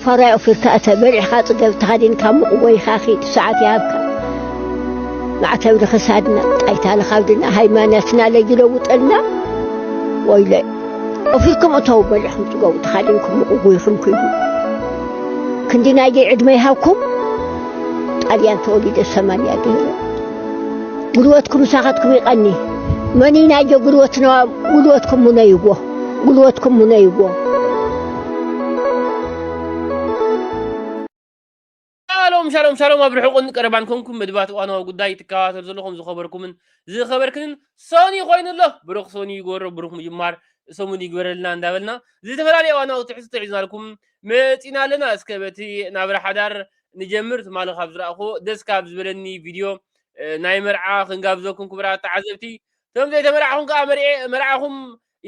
ፋራይ ኦፊርካ እተ በሊዕካ ጽገብ ተኸዲንካ ሙቕ ጎይኻ ኺድ ሰዓት ይሃብካ ማዕተብ ንኽሳድና ጣይታ ንኻብድና ሃይማኖትና ለይለውጠልና ወይለይ ኦፊርኩም እተው በሊዕኩም ጽገቡ ተኻዲንኩም ሙቕ ጎይኹም ኪዱ ክንዲ ናይ ደይ ዕድመ ይሃብኩም ጣልያን ተወሊደ ሰማንያ ገይረ ጉልበትኩም ምሳኻትኩም ይቐኒ መኒ ናይ ጆ ጉልበትና ጉልበትኩም ሙነይዎ ጉልበትኩም ሙነይዎ። ሻሎም ሻሎም ሻሎም ኣብ ርሑቕን ቀረባን ኮንኩም መድባት እዋናዊ ጉዳይ ትከታተሉ ዘለኹም ዝኸበርኩምን ዝኸበርክንን ሶኒ ኮይኑ ኣሎ ብሩኽ ሶኒ ይግበሮ ብሩኽ ምጅማር ሰሙን ይግበረልና እንዳበልና ዝተፈላለዩ እዋናዊ ትሕዝቶ ሒዝናልኩም መፂና ኣለና እስከ በቲ ናብራ ሓዳር ንጀምር ትማሊ ካብ ዝረኣኹዎ ደስ ካብ ዝበለኒ ቪድዮ ናይ መርዓ ክንጋብዘኩም ክብራት ተዓዘብቲ እቶም ዘይተመርዓኹም ከዓ መርዔ መርዓኹም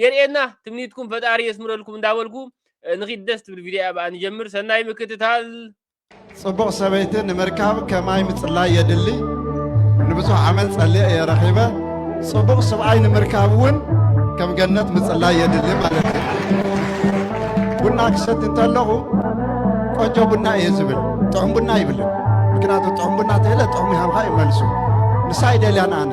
የርእየና ትምኒትኩም ፈጣሪ የስምረልኩም እንዳበልኩ ንኺድ ደስ ትብል ቪድዮ እያ ብኣ ንጀምር ሰናይ ምክትታል ጽቡቕ ሰበይቲ ንምርካብ ከማይ ምጽላይ የድሊ ንብዙሕ ዓመት ጸልየ እየ ረኺበ ጽቡቕ ስብኣይ ንምርካብ እውን ከም ገነት ምጽላይ የድሊ ማለት እዩ ቡና ክሰት እንተለኹ ቆንጆ ቡና እየ ዝብል ጥዑም ቡና ይብልን ምክንያቱ ጥዑም ቡና ተለ ጥዑም ይሃብካ እዩ መልሱ ንሳ ይደልያን ኣነ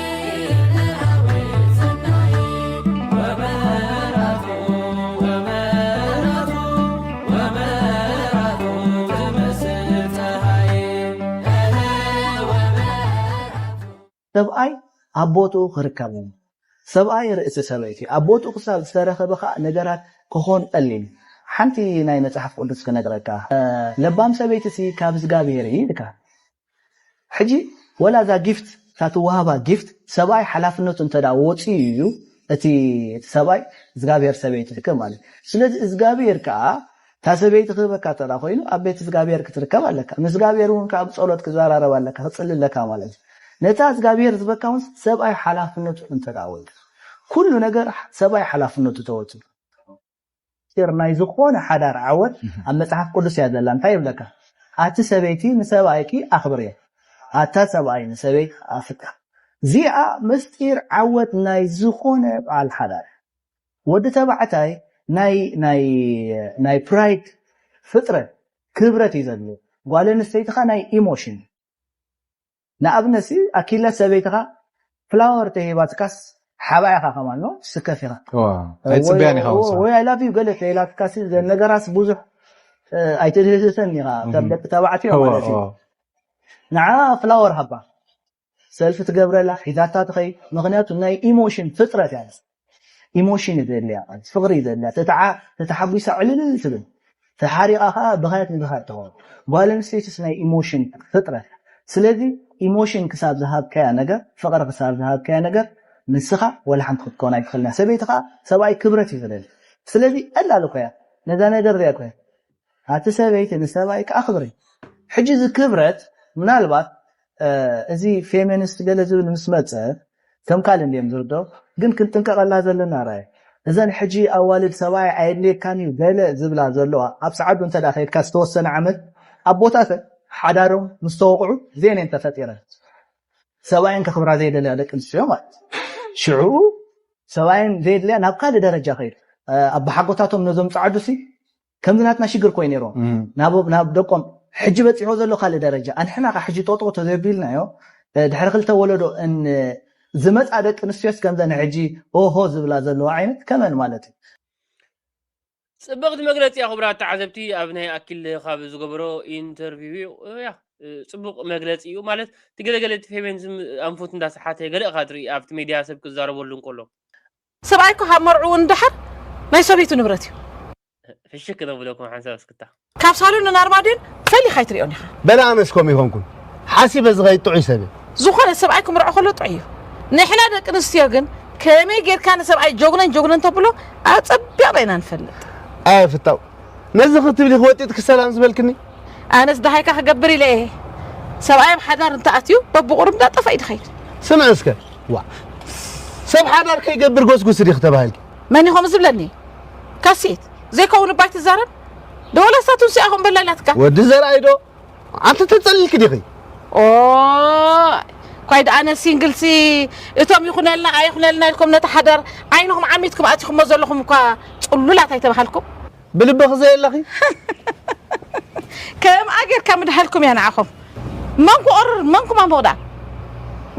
ሰብኣይ ኣብ ቦትኡ ክርከብ እሞ ሰብኣይ ርእሲ ሰበይቲ ኣብ ቦትኡ ክሳብ ዝተረኸበ ከኣ ነገራት ክኾን ቀሊል ሓንቲ ናይ መጽሓፍ ቅዱስ ክነግረካ ለባም ሰበይትሲ ካብ እዝጋብሄር እይ ኢልካ ሕጂ ወላ እዛ ጊፍት እታ ትወሃባ ጊፍት ሰብኣይ ሓላፍነቱ እንተ ወጽዩ እዩ እቲ እቲ ሰብኣይ እዝጋብሄር ሰበይቱ ዝክብ ማለት ስለዚ እዝጋብሄር ከኣ እታ ሰበይቲ ክህበካ እንተ ኮይኑ ኣብ ቤት እዝጋብሄር ክትርከብ ኣለካ ምስ እዝጋብሄር እውን ከኣ ብጸሎት ክዘራረብ ኣለካ ክጽሊ ኣለካ ማለት እዩ ነታ እዝጋብሄር ዝበካ እውን ሰብኣይ ሓላፍነቱ እንተ ወይካ ኩሉ ነገር ሰብኣይ ሓላፍነቱ ተወጽዩ ምስጢር ናይ ዝኾነ ሓዳር ዓወት ኣብ መጽሓፍ ቅዱስ እያ ዘላ እንታይ ይብለካ ኣቲ ሰበይቲ ንሰብኣይኪ ኣኽብርዮ ኣታ ሰብኣይ ንሰበይትካ ኣፍቅር እዚኣ ምስጢር ዓወት ናይ ዝኾነ በዓል ሓዳር ወዲ ተባዕታይ ናይ ናይ ናይ ፕራይድ ፍጥረት ክብረት እዩ ዘድልዮ ጓል ኣንስተይትኻ ናይ ኢሞሽን ንኣብነት ሲ ኣኪለ ሰበይትኻ ፍላወር ተሂባትካስ ሓብኣ ኢኻ ከማኖ ትስከፍ ኢኻ ወይ ኣይ ላቭ ዩ ገለ ተኢላትካ ሲ ነገራስ ብዙሕ ኣይትድህስሰን ኢኻ ከም ደቂ ተባዕትዮ ማለት ዩ ንዓ ፍላወር ሃባ ሰልፊ ትገብረላ ሒዛታ ትኸይድ ምክንያቱ ናይ ኢሞሽን ፍጥረት እያ ኢሞሽን እዩ ዘድልያ ቃልሲ ፍቅሪ እዩ ዘድልያ ተተሓጒሳ ዕልልል ትብል ተሓሪቃ ከዓ ብካት ንብካት ትኸውን ጓል ኣንስተይትስ ናይ ኢሞሽን ፍጥረት ስለዚ ኢሞሽን ክሳብ ዝሃብካያ ነገር ፍቅሪ ክሳብ ዝሃብካያ ነገር ንስኻ ወላ ሓንቲ ክትከውን ኣይትኽእልን ሰበይቲ ከዓ ሰብኣይ ክብረት እዩ ዝደሊ ስለዚ ዕላል እኮ እያ ነዛ ነገር እዚኣ እኮ ኣቲ ሰበይቲ ንሰብኣይ ክኣኽብር እዩ ሕጂ እዚ ክብረት ምናልባት እዚ ፌመንስት ገለ ዝብል ምስ መጸ ከም ካልእ እንድዮም ዝርደኡ ግን ክንጥንቀቀላ ዘለና ራይ እዘን ሕጂ ኣዋልድ ሰብኣይ ኣየድልየካን እዩ ገለ ዝብላ ዘለዋ ኣብ ጸዓዱ እንተ ከድካ ዝተወሰነ ዓመት ኣቦታተን ሓዳሮም ምስ ተወቅዑ እዚኤን እየን ተፈጢረን ሰብኣየን ከክብራ ዘይደልያ ደቂ ኣንስትዮ ማለት ሽዑኡ ሰብኣየን ዘየድልያ ናብ ካልእ ደረጃ ከይዱ ኣቦሓጎታቶም ነዞም ጸዓዱሲ ከምዚ ናትና ሽግር ኮይ ነይሮ ናብ ደቆም ሕጂ በጺሖ ዘሎ ካልእ ደረጃ ኣንሕና ከ ሕጂ ጦጦ ተዘቢልናዮ ድሕሪ ክልተ ወለዶ ዝመጻ ደቂ ኣንስትዮስ ከምዘን ሕጂ ኦሆ ዝብላ ዘለዋ ዓይነት ከመን ማለት እዩ ጽብቕቲ መግለጺ እያ ክቡራት ተዓዘብቲ ኣብ ናይ ኣኪል ካብ ዝገበሮ ኢንተርቪው እያ ጽቡቅ መግለጺ እዩ ማለት እቲ ገለገለ እቲ ፌሜኒዝም ኣንፉት እንዳሰሓተ ገለ እኻ ትርኢ ኣብቲ ሜድያ ሰብ ክዛረበሉ እንከሎ ሰብኣይ እኮ ካብ መርዕኡ ንደሓር ናይ ሰበይቱ ንብረት እዩ። ፍሽክ ዘብለኩም ሓንሳብ እስክታ። ካብ ሳሎንን ኣርማድዮን ፈሊኻ ኣይትሪኦን ኢኻ። በለ ኣነስ ከምኡ ይኾንኩን ሓሲበ ዝኸይድ ጥዑይ ሰብ እየ። ዝኾነ ሰብኣይ ክምርዖ ከሎ ጥዑይ እዩ። ንሕና ደቂ ኣንስትዮ ግን ከመይ ጌርካ ንሰብኣይ ጆግነን ጆግነን ተብሎ ኣጸቢቕና ኢና ንፈልጥ። ኣየ ፍታው ነዚ ክትብሊ ክወጢጥኪ ሰላም ዝበልክኒ? ኣነስ ደሃይካ ክገብር ኢለ እየ ሰብኣይ ኣብ ሓዳር እንተኣትዩ በብቑሩብ እንዳጠፈኣ እዩ ዝኸይድ። ስምዒ እስከ ዋእ ሰብ ሓዳር ከይገብር ጎስጉሲ ዲኺ ተባሂልኪ? መን እዩ ከምኡ ዝብለኒ ካሴት? ዘይከውን እባ ኣይትዛረብ ዶ ወላስ እታ ቱንሲኣ ከምኡ በላ ኢላትካ? ወዲ ዘርኣይ ዶ? ኣንቲ ተጸሊልኪ ዲኺ? ኦይ ኳይ ደኣ ነዚ ሲንግልሲ እቶም ይኹነልና ኣይኹነልና ኢልኩም ነቲ ሓዳር ዓይንኹም ዓሚትኩም ኣቲኹሞ ዘለኹም እኳ ጽሉላት ኣይተባሃልኩም። ብልብኺ ዘየለኺ ከምኣ ጌርካ ምድሃልኩም እያ ንዓኹም። መንኩ ኦርር መንኩ ማንቡቕ ደኣ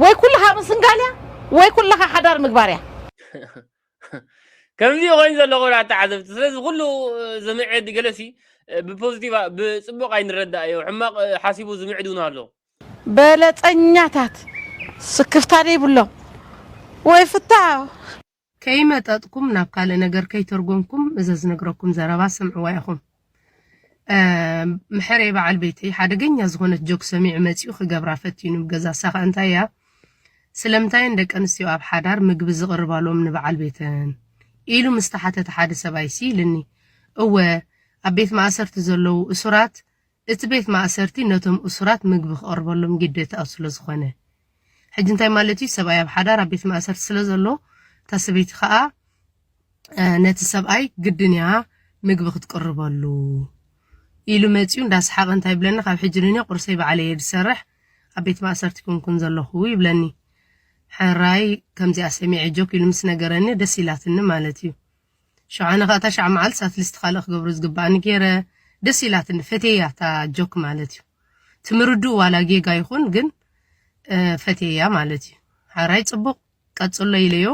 ወይ ኩልኻ ምስንጋል እያ ወይ ኩልኻ ሓዳር ምግባር እያ። ከምዚ ኮይኑ ዘሎ ክብራት ተዓዘብቲ ስለዚ ኩሉ ዝምዕድ ገለሲ ብፖዚቲቭ ብፅቡቅ ኣይንረዳእዮ ሕማቅ ሓሲቡ ዝምዕድ እውን ኣሎ በለፀኛታት ስክፍታ ዘይብሎም ወይ ፍታው ከይመጠጥኩም ናብ ካልእ ነገር ከይተርጎምኩም እዘ ዝነግረኩም ዘረባ ስምዕዋ ኢኹም። ምሕሬ በዓል ቤተይ ሓደገኛ ዝኾነት ጆክ ሰሚዑ መጺኡ ክገብራ ፈቲኑ ገዛ ሳኻ እንታይ እያ ስለምንታይን ደቂ ኣንስትዮ ኣብ ሓዳር ምግቢ ዝቕርባሎም ንበዓል ቤተን ኢሉ ምስ ተሓተተ ሓደ ሰብኣይ ሲ ኢልኒ እወ ኣብ ቤት ማእሰርቲ ዘለዉ እሱራት እቲ ቤት ማእሰርቲ ነቶም እሱራት ምግቢ ክቐርበሎም ግዴታኡ ስለ ዝኾነ ሕጂ እንታይ ማለት እዩ ሰብኣይ ኣብ ሓዳር ኣብ ቤት ማእሰርቲ ስለ ዘሎ እታ ሰበይቲ ከዓ ነቲ ሰብኣይ ግድን እያ ምግቢ ክትቅርበሉ ኢሉ መፂኡ እንዳሰሓቐ እንታይ ይብለኒ ካብ ሕጂ ንኔ ቁርሰይ ባዕለ እየ ዝሰርሕ ኣብ ቤት ማእሰርቲ ኩንኩን ዘለኹ ይብለኒ ሕራይ ከምዚኣ ሰሚዐ ጆክ ኢሉ ምስ ነገረኒ ደስ ኢላትኒ ማለት እዩ ሽዑ ኣነ ከኣ ታሽዓ መዓልቲ ሳትልስቲ ካልእ ክገብሮ ዝግበኣኒ ጌረ ደስ ኢላትኒ ፈትየያ እታ ጆክ ማለት እዩ እቲ ምርድኡ ዋላ ጌጋ ይኹን ግን ፈትየያ ማለት እዩ ሓራይ ጽቡቕ ቀጽሎ ኢለዮ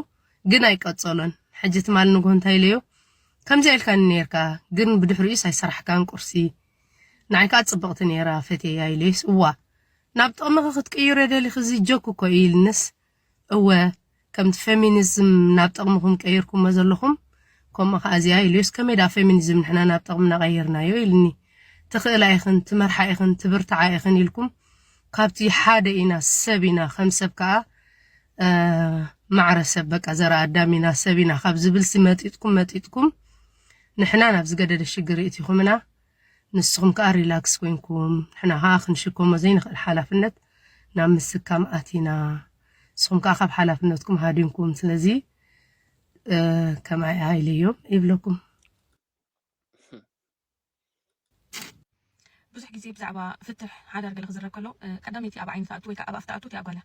ግን ኣይቀጸሎን ሕጂ ትማል ንግሆ እንታይ ኢለዮ ከምዚ ኢልካኒ ነርካ ግን ብድሕሪኡስ ኣይሰራሕካን ቁርሲ ንዓይ ከዓ ጽብቕቲ ነይራ ፈትየያ ኢለዩስ እዋ ናብ ጥቕምኺ ክትቅይሮ ደሊኺ እዚ ጆክ እኮ እዩ ኢልንስ እወ ከምቲ ፌሚኒዝም ናብ ጠቕምኹም ቀይርኩሞ ዘለኹም ከምኡ ከኣ እዚኣ ኢሉስ ከመይ ደኣ ፌሚኒዝም ንሕና ናብ ጠቕምና ቀይርናዮ ኢልኒ ትኽእላ ኢኽን ትመርሓ ኢኽን ትብርትዓ ኢኽን ኢልኩም ካብቲ ሓደ ኢና ሰብ ኢና ከም ሰብ ከኣ ማዕረ ሰብ በቃ ዘራ ኣዳም ኢና ሰብ ኢና ካብ ዝብልሲ መጢጥኩም መጢጥኩም ንሕና ናብ ዝገደደ ሽግር ይእቲኹምና ንስኹም ከኣ ሪላክስ ኮይንኩም ንሕና ከኣ ክንሽከሞ ዘይንኽእል ሓላፍነት ናብ ምስካም ኣቲና ንስኹም ከኣ ካብ ሓላፍነትኩም ሃዲምኩም ስለዚ ከም ኣይ ኢለ እዮ ይብለኩም። ብዙሕ ግዜ ብዛዕባ ፍትሕ ሓዳር ገለ ክዝረብ ከሎ ቀዳመይቲ ኣብ ዓይኒ ትኣቱ ወይ ከኣ ኣብ ኣፍ ትኣቱ እቲኣ ጓል እያ።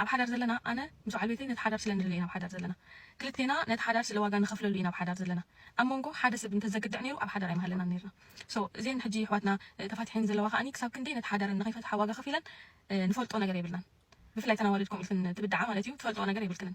ኣብ ሓዳር ዘለና ኣነ ምስ በዓል ቤተይ ነቲ ሓዳር ስለ ንደልዮ ኢና ኣብ ሓዳር ዘለና ክልቴና ነቲ ሓዳር ስለ ዋጋ ንከፍለሉ ኢና ኣብ ሓዳር ዘለና ኣብ ሞንጎ ሓደ ሰብ እንተ ዘግድዕ ኔሩ ኣብ ሓዳር ኣይምሃለናን ኔርና so እዜን ሕጂ የሕዋትና ተፋቲሐን ዘለዋ ከኣ ክሳብ ክንደይ ነቲ ሓዳረን ንከይፈትሓ ዋጋ ከፊለን ንፈልጦ ነገር የብልናን ብፍላይ ተን ኣዋልድ ከምኡ ኢልክን ትብድዓ ማለት እዩ ትፈልጥኦ ነገር የብልክንን።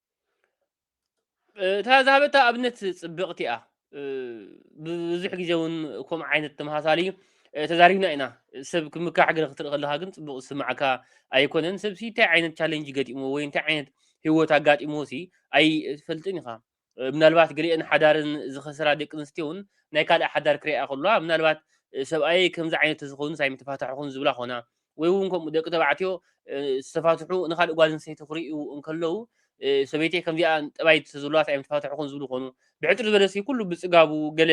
እታ ዝሃበታ ኣብነት ፅብቕቲ እያ ብዙሕ ግዜ እውን ከምኡ ዓይነት ተመሳሳሊ ተዛሪብና ኢና ሰብ ክምካሕ ገለ ክትርኢ ከለካ ግን ፅቡቅ ዝስማዕካ ኣይኮነን ሰብሲ እንታይ ዓይነት ቻለንጅ ገጢሞ ወይ እንታይ ዓይነት ሂወት ኣጋጢሞ ሲ ኣይፈልጥን ኢኻ ምናልባት ገሊአን ሓዳርን ዝኸሰራ ደቂ ኣንስትዮ እውን ናይ ካልእ ሓዳር ክሪኣ ከለዋ ምናልባት ሰብኣይ ከምዚ ዓይነት ተዝኸውንስ ኣይምተፋታሕኹን ዝብላ ኮና ወይ እውን ከምኡ ደቂ ተባዕትዮ ዝተፋትሑ ንካልእ ጓል ኣንስተይቲ ክርእዩ እንከለዉ ሰበይተይ ከምዚኣ ጠባይ ተዘለዋስ ኣይምተፋትሕኹን ዝብሉ ኮኑ ብሕፅር ዝበለ ሲ ኩሉ ብፅጋቡ ገለ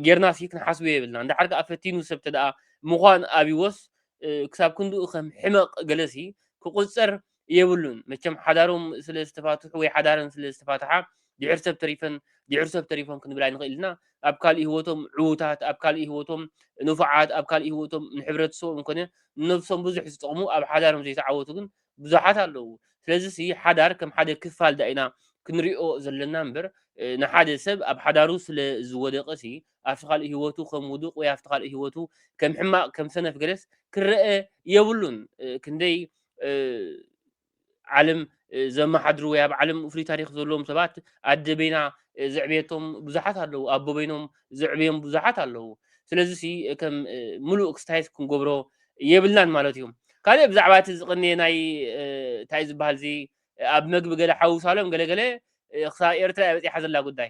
ጌርና ሲ ክንሓስቦ የብልና እንዳሓር ከዓ ፈቲኑ ሰብ ተደኣ ምዃን ኣብዎስ ክሳብ ክንድኡ ከም ሕመቕ ገለ ሲ ክቑፀር የብሉን መቸም ሓዳሮም ስለ ዝተፋትሑ ወይ ሓዳረን ስለ ዝተፋትሓ ድሕር ሰብ ተሪፈን ድሕር ሰብ ተሪፎም ክንብል ኣይንኽእል ኢና ኣብ ካልእ ህይወቶም ዕዉታት ኣብ ካልእ ህይወቶም ንፉዓት ኣብ ካልእ ህይወቶም ንሕብረተሰቦም ኮነ ንነብሶም ብዙሕ ዝጠቕሙ ኣብ ሓዳሮም ዘይተዓወቱ ግን ብዙሓት ኣለዉ ስለዚ ሲ ሓዳር ከም ሓደ ክፋል ዳ ኢና ክንሪኦ ዘለና እምበር ንሓደ ሰብ ኣብ ሓዳሩ ስለ ዝወደቀ ሲ ኣብቲ ካልእ ህይወቱ ከም ውዱቅ ወይ ኣብቲ ካልእ ህይወቱ ከም ሕማቅ ከም ሰነፍ ገለስ ክረአ የብሉን ክንደይ ዓለም ዘመሓድሩ ወይ ኣብ ዓለም ፍሉይ ታሪክ ዘለዎም ሰባት ኣደ በይና ዘዕብየቶም ብዙሓት ኣለዉ ኣቦ በይኖም ዘዕብዮም ብዙሓት ኣለዉ ስለዚ ሲ ከም ሙሉእ ክስታይት ክንገብሮ የብልናን ማለት እዩ ካልእ ብዛዕባ እቲ ዝቕንየ ናይ እንታይ ዝበሃል እዚ ኣብ መግቢ ገለ ሓውሳሎም ገለገለ ክሳብ ኤርትራ በፂሓ ዘላ ጉዳይ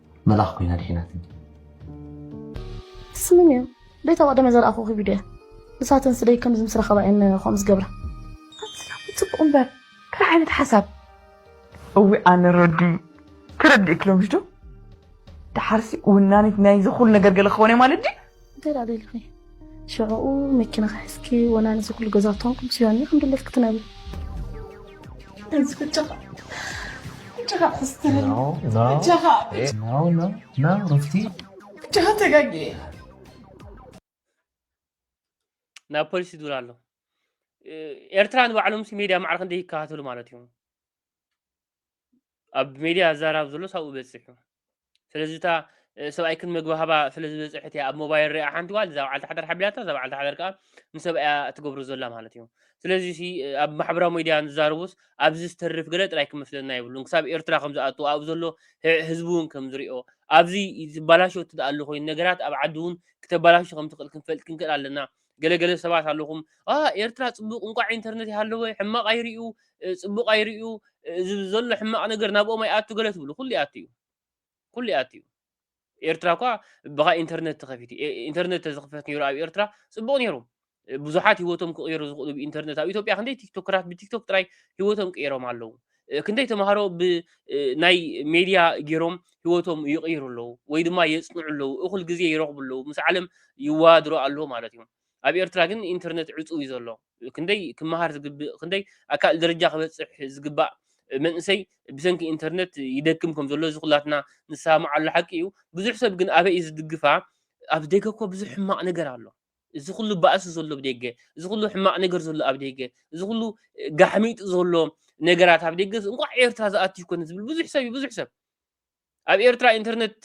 መላኽ ኮይና ድሒናትኒ ስሚ ሜው ደይታ ቀደመ ዘርኣኹ ቪድዮ እያ ንሳተን ስደይ ከምዚ ምስ ረኸባ እየን ከምኡ ዝገብራ ፅቡቅ እምበር ከይ ዓይነት ሓሳብ እዊ ኣነ ረዲ ክረድእ ክሎምሽ ዶ ድሓርሲ ውናኒት ናይዚ ኩሉ ነገር ገለ ክኾነ ማለት ድዩ እንታይ ደኣ ደሊኺ ሽዕኡ መኪና ክሕዝኪ ወላ ነዚ ኩሉ ገዛውቶም ኩሉ ስዮኒ ከም ድሌት ክትነብሪ ጀኻ ክስትሪ ጀኻ ና ሩፍቲ ጀኻ ተጋጊ ናብ ፖሊስ ይድውል ኣሎ ኤርትራ ንባዕሎም ሲ ሜድያ ማዕረ ክንደይ ይከታተሉ ማለት እዩ ኣብ ሜድያ ኣዛራብ ዘሎ ሳብኡ በፂሑ ስለዚ እታ ሰብኣይ ክን መግቢ ሃባ ስለ ዝበፅሐት እያ ኣብ ሞባይል ሪኣ ሓንቲ ጓል እዛ በዓልቲ ሓዳር ሓቢራታ እዛ በዓልቲ ሓዳር ከዓ ንሰብኣያ ትገብሮ ዘላ ማለት እዩ ስለዚ ሲ ኣብ ማሕበራዊ ሚድያ ንዛረቡስ ኣብዚ ዝተርፍ ገለ ጥራይ ክመስለና የብሉን ክሳብ ኤርትራ ከም ዝኣቱ ኣብኡ ዘሎ ህዝቢ እውን ከም ዝሪኦ ኣብዚ ዝበላሾ እትደኣ ኣሎ ኮይኑ ነገራት ኣብ ዓዲ እውን ክተበላሹ ከም ትኽእል ክንፈልጥ ክንክእል ኣለና ገለ ገለ ሰባት ኣለኹም ኣ ኤርትራ ጽቡቕ እንቋዕ ኢንተርነት ይሃለወ ሕማቕ ኣይርእዩ ጽቡቕ ኣይርእዩ እዚ ዘሎ ሕማቕ ነገር ናብኦም ኣይኣቱ ገለ ትብሉ ኩሉ ይኣቱ እዩ ኩሉ ይኣቱ እዩ ኤርትራ እኳ ብኻ ኢንተርነት ተኸፊቱ ኢንተርነት ተዝኽፈት ነይሩ ኣብ ኤርትራ ጽቡቕ ነይሩ ብዙሓት ህይወቶም ክቕየሩ ዝኽእሉ ብኢንተርነት ኣብ ኢትዮጵያ ክንደይ ቲክቶከራት ብቲክቶክ ጥራይ ህይወቶም ቅየሮም ኣለዉ ክንደይ ተምሃሮ ብናይ ሜድያ ገይሮም ህይወቶም ይቕይሩ ኣለዉ ወይ ድማ የፅንዑ ኣለዉ እኹል ግዜ ይረኽቡ ኣለዉ ምስ ዓለም ይወዳድሩ ኣለዉ ማለት እዮም ኣብ ኤርትራ ግን ኢንተርነት ዕፁው እዩ ዘሎ ክንደይ ክመሃር ዝግብእ ክንደይ ኣካል ደረጃ ክበፅሕ ዝግባእ መንእሰይ ብሰንኪ ኢንተርነት ይደክም ከም ዘሎ እዚ ኩላትና ንሰማማዓሉ ሓቂ እዩ ብዙሕ ሰብ ግን ኣበይ እዩ ዝድግፋ ኣብ ደገ እኮ ብዙሕ ሕማቕ ነገር ኣሎ እዚ ኩሉ ባእሲ ዘሎ ኣብ ደገ፣ እዚ ኩሉ ሕማቕ ነገር ዘሎ ኣብ ደገ፣ እዚ ኩሉ ጋሕሚጥ ዘሎ ነገራት ኣብ ደገ እንቋዕ ኤርትራ ዝኣቱ ይኮነ ዝብል ብዙሕ ሰብ እዩ ብዙሕ ሰብ ኣብ ኤርትራ ኢንተርነት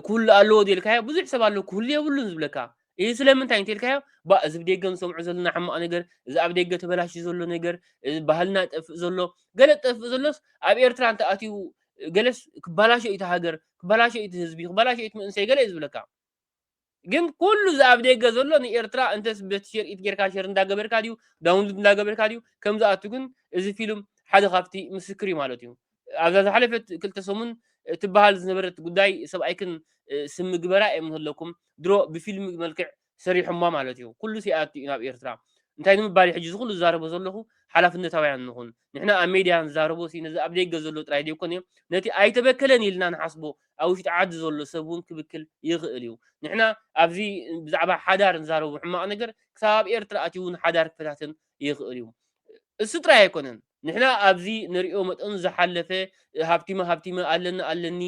ክህሉ ኣለዎ ዘልካዮ ብዙሕ ሰብ ኣሎ ክህሉ የብሉን ዝብለካ ይህ ስለምንታይ እንተልካዮ ባ እዚ ብደገ ንሰምዖ ዘለና ሕማቕ ነገር እዚ ኣብ ደገ ተበላሽ ዘሎ ነገር እዚ ባህልና ጠፍእ ዘሎ ገለ ጠፍእ ዘሎስ ኣብ ኤርትራ እንተ ኣትዩ ገለስ ክበላሾ እቲ ሃገር ክበላሾ እቲ ህዝቢ ክበላሾ እቲ መንእሰይ ገለ እዩ ዝብለካ ግን ኩሉ እዚ ኣብ ደገ ዘሎ ንኤርትራ እንተስ በቲ ሼር ኢት ጌርካ ሼር እንዳገበርካ ድዩ ዳውንሉድ እንዳገበርካ ድዩ ከም ዝኣቱ ግን እዚ ፊልም ሓደ ካብቲ ምስክር እዩ ማለት እዩ ኣብዛ ዝሓለፈት ክልተ ሰሙን ትበሃል ዝነበረት ጉዳይ ሰብኣይክን ስም ምግበራ የምንህለኩም ድሮ ብፊልም መልክዕ ሰሪሖማ ማለት እዩ ኩሉ ሲኣቱ እዩ ናብ ኤርትራ እንታይ ንምባል ሕጂ እዚ ኩሉ ዝዛረቦ ዘለኹ ሓላፍነታውያን ንኹን ንሕና ኣብ ሜድያ ንዛረቦ ሲ ነዚ ኣብ ደገ ዘሎ ጥራይ ዘይኮነ ነቲ ኣይተበከለን ኢልና ንሓስቦ ኣብ ውሽጢ ዓዲ ዘሎ ሰብ ውን ክብክል ይኽእል ኢዩ ንሕና ኣብዚ ብዛዕባ ሓዳር ንዛረቦ ሕማቕ ነገር ክሳብ ኣብ ኤርትራ ኣትዩ ውን ሓዳር ክፈታትን ይኽእል ኢዩ እሱ ጥራይ ኣይኮነን ንሕና ኣብዚ ንሪኦ መጠኑ ዝሓለፈ ሃብቲመ ሃብቲመ ኣለኒ ኣለኒ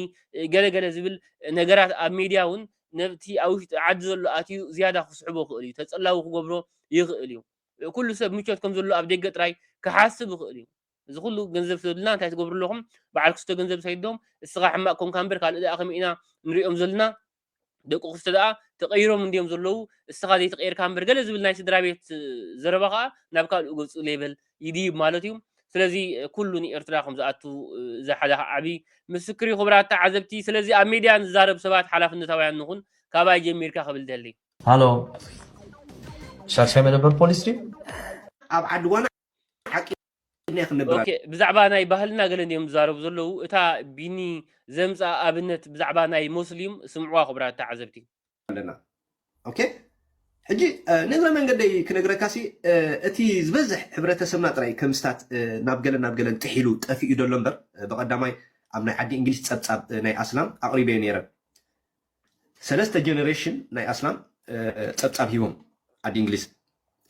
ገለ ገለ ዝብል ነገራት ኣብ ሜድያ ውን ነቲ ኣብ ውሽጢ ዓዲ ዘሎ ኣትዩ ዝያዳ ክስሕቦ ክእል ኢዩ ተጸላዊ ክገብሮ ይኽእል ኢዩ ኩሉ ሰብ ምቾት ከም ዘሎ ኣብ ደገ ጥራይ ክሓስብ ይኽእል ኢዩ እዚ ኩሉ ገንዘብ ተብልና እንታይ ትገብሩ ኣለኹም በዓል ክስቶ ገንዘብ ሰይዶም እስኻ ሕማቅ ኮንካ እምበር ካልእ ደኣ ከመይ ኢና ንሪኦም ዘልና ደቂ ክስቶ ደኣ ተቀይሮም እንድዮም ዘለዉ እስኻ ዘይተቀይርካ እምበር ገለ ዝብል ናይ ስድራ ቤት ዘረባ ከኣ ናብ ካልኡ ገጹ ሌበል ይድይብ ማለት እዩ ስለዚ ኩሉ ንኤርትራ ከም ዝኣቱ እዚ ሓደ ዓቢ ምስክር እዩ ክብራት ተዓዘብቲ ስለዚ ኣብ ሜድያ ንዛረብ ሰባት ሓላፍነታውያን ንኹን ካባይ ጀሚርካ ክብል ደሊ ሃሎ ሻድሻይ መደበር ፖሊስ ድዩ ኣብ ዓዲ ጓና ሓቂ እኒኣ ክንነግር ኦኬ ብዛዕባ ናይ ባህልና ገለ እንዲዮም ዝዛረቡ ዘለዉ እታ ቢኒ ዘምጽኣ ኣብነት ብዛዕባ ናይ ሞስሊም ስምዕዋ ክቡራት ተዓዘብቲ ኣለና ኦኬ ሕጂ እ፣ ንእግረ መንገደይ ክነግረካ ሲ እ፣ እቲ ዝበዝሕ ሕብረተሰብና ጥራይ ከምስታት እ፣ ናብ ገለን ናብ ገለን ጥሒሉ ጠፊኡ ደሎ እምበር እ፣ ብቐዳማይ ኣብ ናይ ዓዲ እንግሊዝ ጸብጻብ እ፣ ናይ ኣስላም ኣቕሪበዮ ነይረ ሰለስተ ጀነሬሽን ናይ ኣስላም ጸብጻብ ሂቦም ዓዲ እንግሊዝ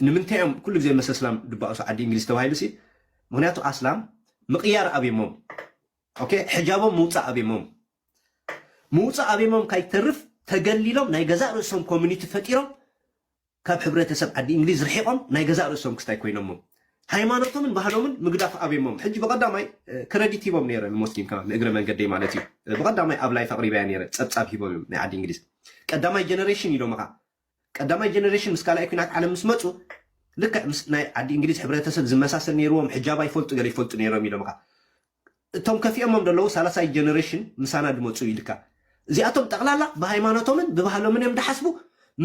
ንምንታይ እዮም ኩሉ ግዜ መሰ ስላም ድባእሱ ዓዲ እንግሊዝ ተባሂሉ ሲ ምክንያቱ ኣስላም ምቕያር ኣብሞም ኦኬ ሕጃቦም ምውፃእ ኣብሞም ምውፃእ ኣብሞም ካይተርፍ ተገሊሎም ናይ ገዛእ ርእሶም ኮሚኒቲ ፈጢሮም ካብ ሕብረተሰብ ዓዲ እንግሊዝ ርሒቆም ናይ ገዛእ ርእሶም ክስታይ ኮይኖሞም ሃይማኖቶምን ባህሎምን ምግዳፍ ኣብዮሞም ሕጂ ብቀዳማይ ክረዲት ሂቦም ነይረ ንሞስሊም ከማን ንእግረ መንገደይ ማለት እዩ ብቀዳማይ ኣብ ላይፍ ኣቅሪበያ ነይረ ጸብጻብ ሂቦም እዮም ናይ ዓዲ እንግሊዝ ቀዳማይ ጀነሬሽን ኢሎምኻ ቀዳማይ ጀነሬሽን ምስ ካልኣይ ኩናት ዓለም ምስ መጹ ልክዕ ምስ ናይ ዓዲ እንግሊዝ ሕብረተሰብ ዝመሳሰል ነይርዎም ሕጃብ ኣይፈልጡ ገለ ይፈልጡ ነይሮም ኢሎምኻ እቶም ከፊኦሞም ደለዉ ሳላሳይ ጀነረሽን ምሳና ድመጹ ኢልካ እዚኣቶም ጠቅላላ ብሃይማኖቶምን ብባህሎምን እዮም ድሓስቡ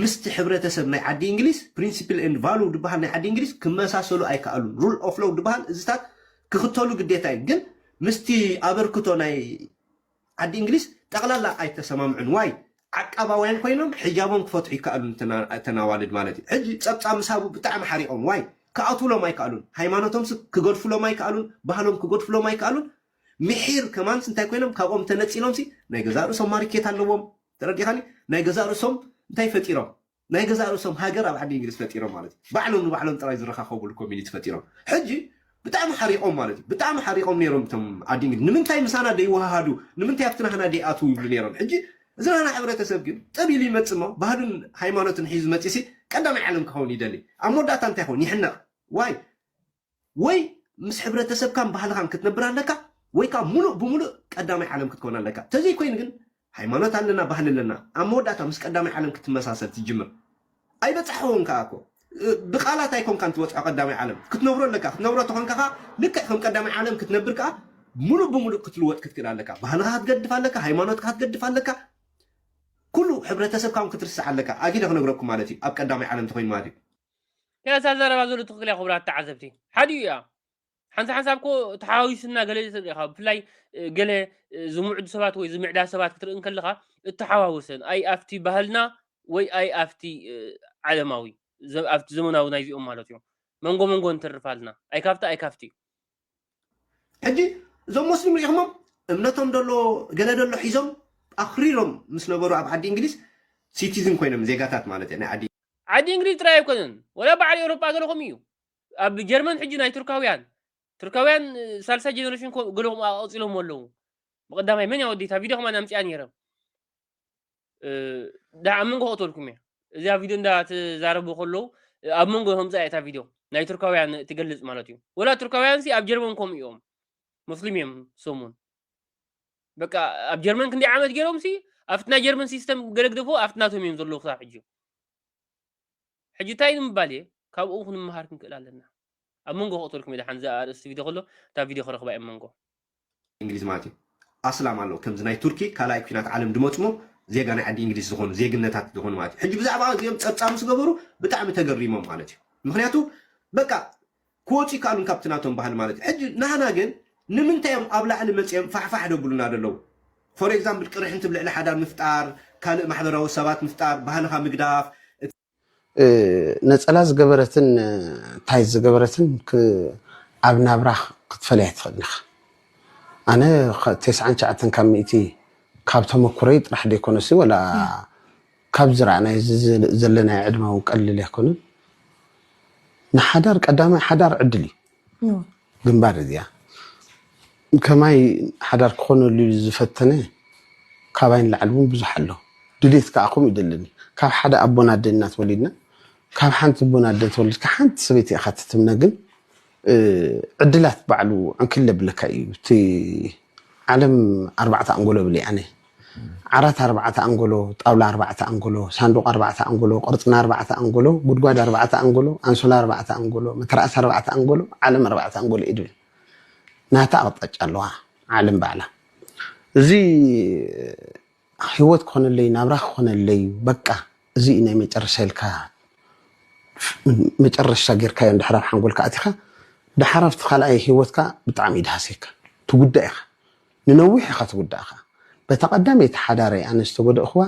ምስቲ ሕብረተሰብ ናይ ዓዲ እንግሊዝ ፕሪንሲፕል ኤንድ ቫሉው ድበሃል ናይ ዓዲ እንግሊዝ ክመሳሰሉ ኣይከኣሉን ሩል ኦፍ ሎው ድበሃል እዚታት ክክተሉ ግዴታ እዩ ግን ምስቲ ኣበርክቶ ናይ ዓዲ እንግሊዝ ጠቅላላ ኣይተሰማምዑን ዋይ ዓቃባውያን ኮይኖም ሕጃቦም ክፈትሑ ይካኣሉን እተን ኣዋልድ ማለት እዩ ሕጂ ጸብጻብ ምስ ሃቡ ብጣዕሚ ሓሪቆም ዋይ ክኣትውሎም ኣይካኣሉን ሃይማኖቶምስ ክገድፍሎም ኣይካኣሉን ባህሎም ክገድፍሎም ኣይካኣሉን ምሒር ከማንስ እንታይ ኮይኖም ካብኦም ተነጺሎምሲ ናይ ገዛእ ርእሶም ማሪኬት ኣለዎም ተረዲኻኒ ናይ ገዛእ ርእሶም እንታይ ፈጢሮም ናይ ገዛእ ርእሶም ሃገር ኣብ ዓዲ እንግሊዝ ፈጢሮም ማለት እዩ ባዕሎም ንባዕሎም ጥራይ ዝረኻኸቡሉ ኮሚኒቲ ፈጢሮም ሕጂ ብጣዕሚ ሓሪቆም ማለት እዩ ብጣዕሚ ሓሪቆም ነይሮም እቶም ዓዲ እንግሊዝ ንምንታይ ምሳና ደይወሃሃዱ ንምንታይ ኣብቲ ናህና ደይኣትዉ ይብሉ ነይሮም ሕጂ እዚ ናህና ሕብረተሰብ ግን ጥብ ኢሉ ይመጽእ እሞ ባህሉን ሃይማኖትን ሒዙ መጺሲ ቀዳማይ ዓለም ክኸውን ይደሊ ኣብ መወዳእታ እንታይ ይኸውን ይሕነቅ ዋይ ወይ ምስ ሕብረተሰብካን ባህልኻን ክትነብር ኣለካ ወይ ከኣ ምሉእ ብምሉእ ቀዳማይ ዓለም ክትከውን ኣለካ። ተዘይኮይኑ ግን ሃይማኖት ኣለና ባህሊ ኣለና ኣብ መወዳእታ ምስ ቀዳማይ ዓለም ክትመሳሰል ትጅምር። ኣይበጻሕክዎን ከኣ እኮ ብቃላት ኣይኮንካን ትበጽሖ ቀዳማይ ዓለም ክትነብሮ ኣለካ። ክትነብሮ ተኾንካ ከኣ ልክዕ ከም ቀዳማይ ዓለም ክትነብር ከኣ ምሉእ ብምሉእ ክትልወጥ ክትክእል ኣለካ። ባህልኻ ክትገድፍ ኣለካ፣ ሃይማኖትካ ክትገድፍ ኣለካ፣ ኩሉ ሕብረተሰብካ እውን ክትርስዕ ኣለካ። ኣጊደ ክነግረኩም ማለት እዩ ኣብ ቀዳማይ ዓለም ተኾይኑ ማለት እዩ። እያ እዛ ዘረባ ዘሎ ትኽክል እያ ክቡራት ተዓዘብቲ ሓዲኡ እያ ሓንሳ ሓንሳብ ኮ ተሓዋዊስና ገለ ትርኢ ኢኻ ብፍላይ ገለ ዝምዕዱ ሰባት ወይ ዝምዕዳ ሰባት ክትርኢ እንከለኻ እተሓዋወሰን ኣይ ኣብቲ ባህልና ወይ ኣይ ኣብቲ ዓለማዊ ኣብቲ ዘመናዊ ናይዚኦም ማለት እዮም መንጎ መንጎ እንትርፋልና ኣይ ካብቲ ኣይ ካብቲ ሕጂ እዞም ሞስሊም ሪኢኹሞም እምነቶም ደሎ ገለ ደሎ ሒዞም ኣኽሪሮም ምስ ነበሩ ኣብ ዓዲ እንግሊዝ ሲቲዝን ኮይኖም ዜጋታት ማለት ናይ ዓዲ ዓዲ እንግሊዝ ጥራይ ኣይኮነን ወላ በዓል ኤውሮጳ ገለኹም እዩ ኣብ ጀርመን ሕጂ ናይ ቱርካውያን ቱርካውያን ሳልሳይ ጀነሬሽን ገለኹም ኣቐጺሎሞ ኣለዉ ብቐዳማይ መን እያ ወዲታ ቪድዮ ከማን ኣምጺኣ ነይረ ኣብ መንጎ ክእተልኩም እየ እዚኣ ቪድዮ እንዳ ትዛረቡ ከለዉ ኣብ መንጎ ከምፃ እታ ቪድዮ ናይ ቱርካውያን ትገልፅ ማለት እዩ ወላ ቱርካውያን ሲ ኣብ ጀርመን ከምኡ እዮም ሙስሊም እዮም ሰሙን በቃ ኣብ ጀርመን ክንደይ ዓመት ገይሮም ሲ ኣብቲ ናይ ጀርመን ሲስተም ገለግደፎ ኣብቲ ናቶም እዮም ዘለዉ ክሳብ ሕጂ ሕጂ እንታይ ንምባል እየ ካብኡ ክንመሃር ክንክእል ኣለና ኣብ መንጎ ክእተልኩም እየ ድሓን እዛ ኣርእስቲ ቪድዮ ከሎ እታ ቪድዮ ክረኽባ እየ መንጎ እንግሊዝ ማለት እዩ ኣስላም ኣሎ ከምዚ ናይ ቱርኪ ካልኣይ ኩናት ዓለም ድመፅሞ ዜጋ ናይ ዓዲ እንግሊዝ ዝኾኑ ዜግነታት ዝኾኑ ማለት እዩ ሕጂ ብዛዕባ እዚኦም ፀብፃብ ምስ ገበሩ ብጣዕሚ ተገሪሞም ማለት እዩ ምክንያቱ በቃ ክወፁ ይከኣሉን ካብቲ ናቶም ባህሊ ማለት እዩ ሕጂ ናህና ግን ንምንታይ እዮም ኣብ ላዕሊ መፅኦም ፋሕፋሕ ደብሉና ደለዉ ፎር ኤግዛምፕል ቅርሕንቲ ብልዕሊ ሓዳር ምፍጣር ካልእ ማሕበራዊ ሰባት ምፍጣር ባህልኻ ምግዳፍ ነጸላ ዝገበረትን ታይት ዝገበረትን ኣብ ናብራ ክትፈልያ ኣይትኽእልን ኢኻ። ኣነ ቴስዓን ትሽዓተን ካብ ሚእቲ ካብ ተመኩረይ ጥራሕ ደይኮነሲ ወላ ካብ ዝረኣናዮ ዘለናዮ ዕድመ እውን ቀሊል ኣይኮነን። ንሓዳር ቀዳማይ ሓዳር ዕድል እዩ። ግንባር እዚኣ ከማይ ሓዳር ክኾነሉ ኢሉ ዝፈተነ ካባይ ንላዕሊ እውን ብዙሕ ኣሎ። ድሌት ከኣ ከምኡ ይደለኒ። ካብ ሓደ ኣቦን ኣደን ኢና ተወሊድና። ካብ ሓንቲ ኣቦን ኣደን ተወሊድካ ሓንቲ ሰበይቲ ኢኻ ትትምነ ግን ዕድላት ባዕሉ ዕንክሊል የብለካ እዩ። እቲ ዓለም ኣርባዕተ ኣንጎሎ የብለይ ኣነ። ዓራት ኣርባዕተ ኣንጎሎ፣ ጣውላ ኣርባዕተ ኣንጎሎ፣ ሳንዱቕ ኣርባዕተ ኣንጎሎ፣ ቅርጽና ኣርባዕተ ኣንጎሎ፣ ጉድጓድ ኣርባዕተ ኣንጎሎ፣ ኣንሶላ ኣርባዕተ ኣንጎሎ፣ መተርኣስ ኣርባዕተ ኣንጎሎ፣ ዓለም ኣርባዕተ ኣንጎሎ እዩ ዝብል። ናታ ኣቕጣጫ ኣለዋ ዓለም ባዕላ። እዚ ህይወት ክኾነለይ ናብራ ክኾነለይ በቃ እዚ እዩ ናይ መጨረሻ ኢልካ መጨረሻ ጌርካዮ እንድሕር ኣብ ሓንጎልካ ኣቲኻ ደሓር ኣብቲ ካልኣይ ህይወትካ ብጣዕሚ እዩ ድሃስየካ ትጉዳእ ኢኻ። ንነዊሕ ኢኻ ተጉዳእኻ በታ ቀዳመይቲ ሓዳረይ ኣነ ዝተጎደእኽዋ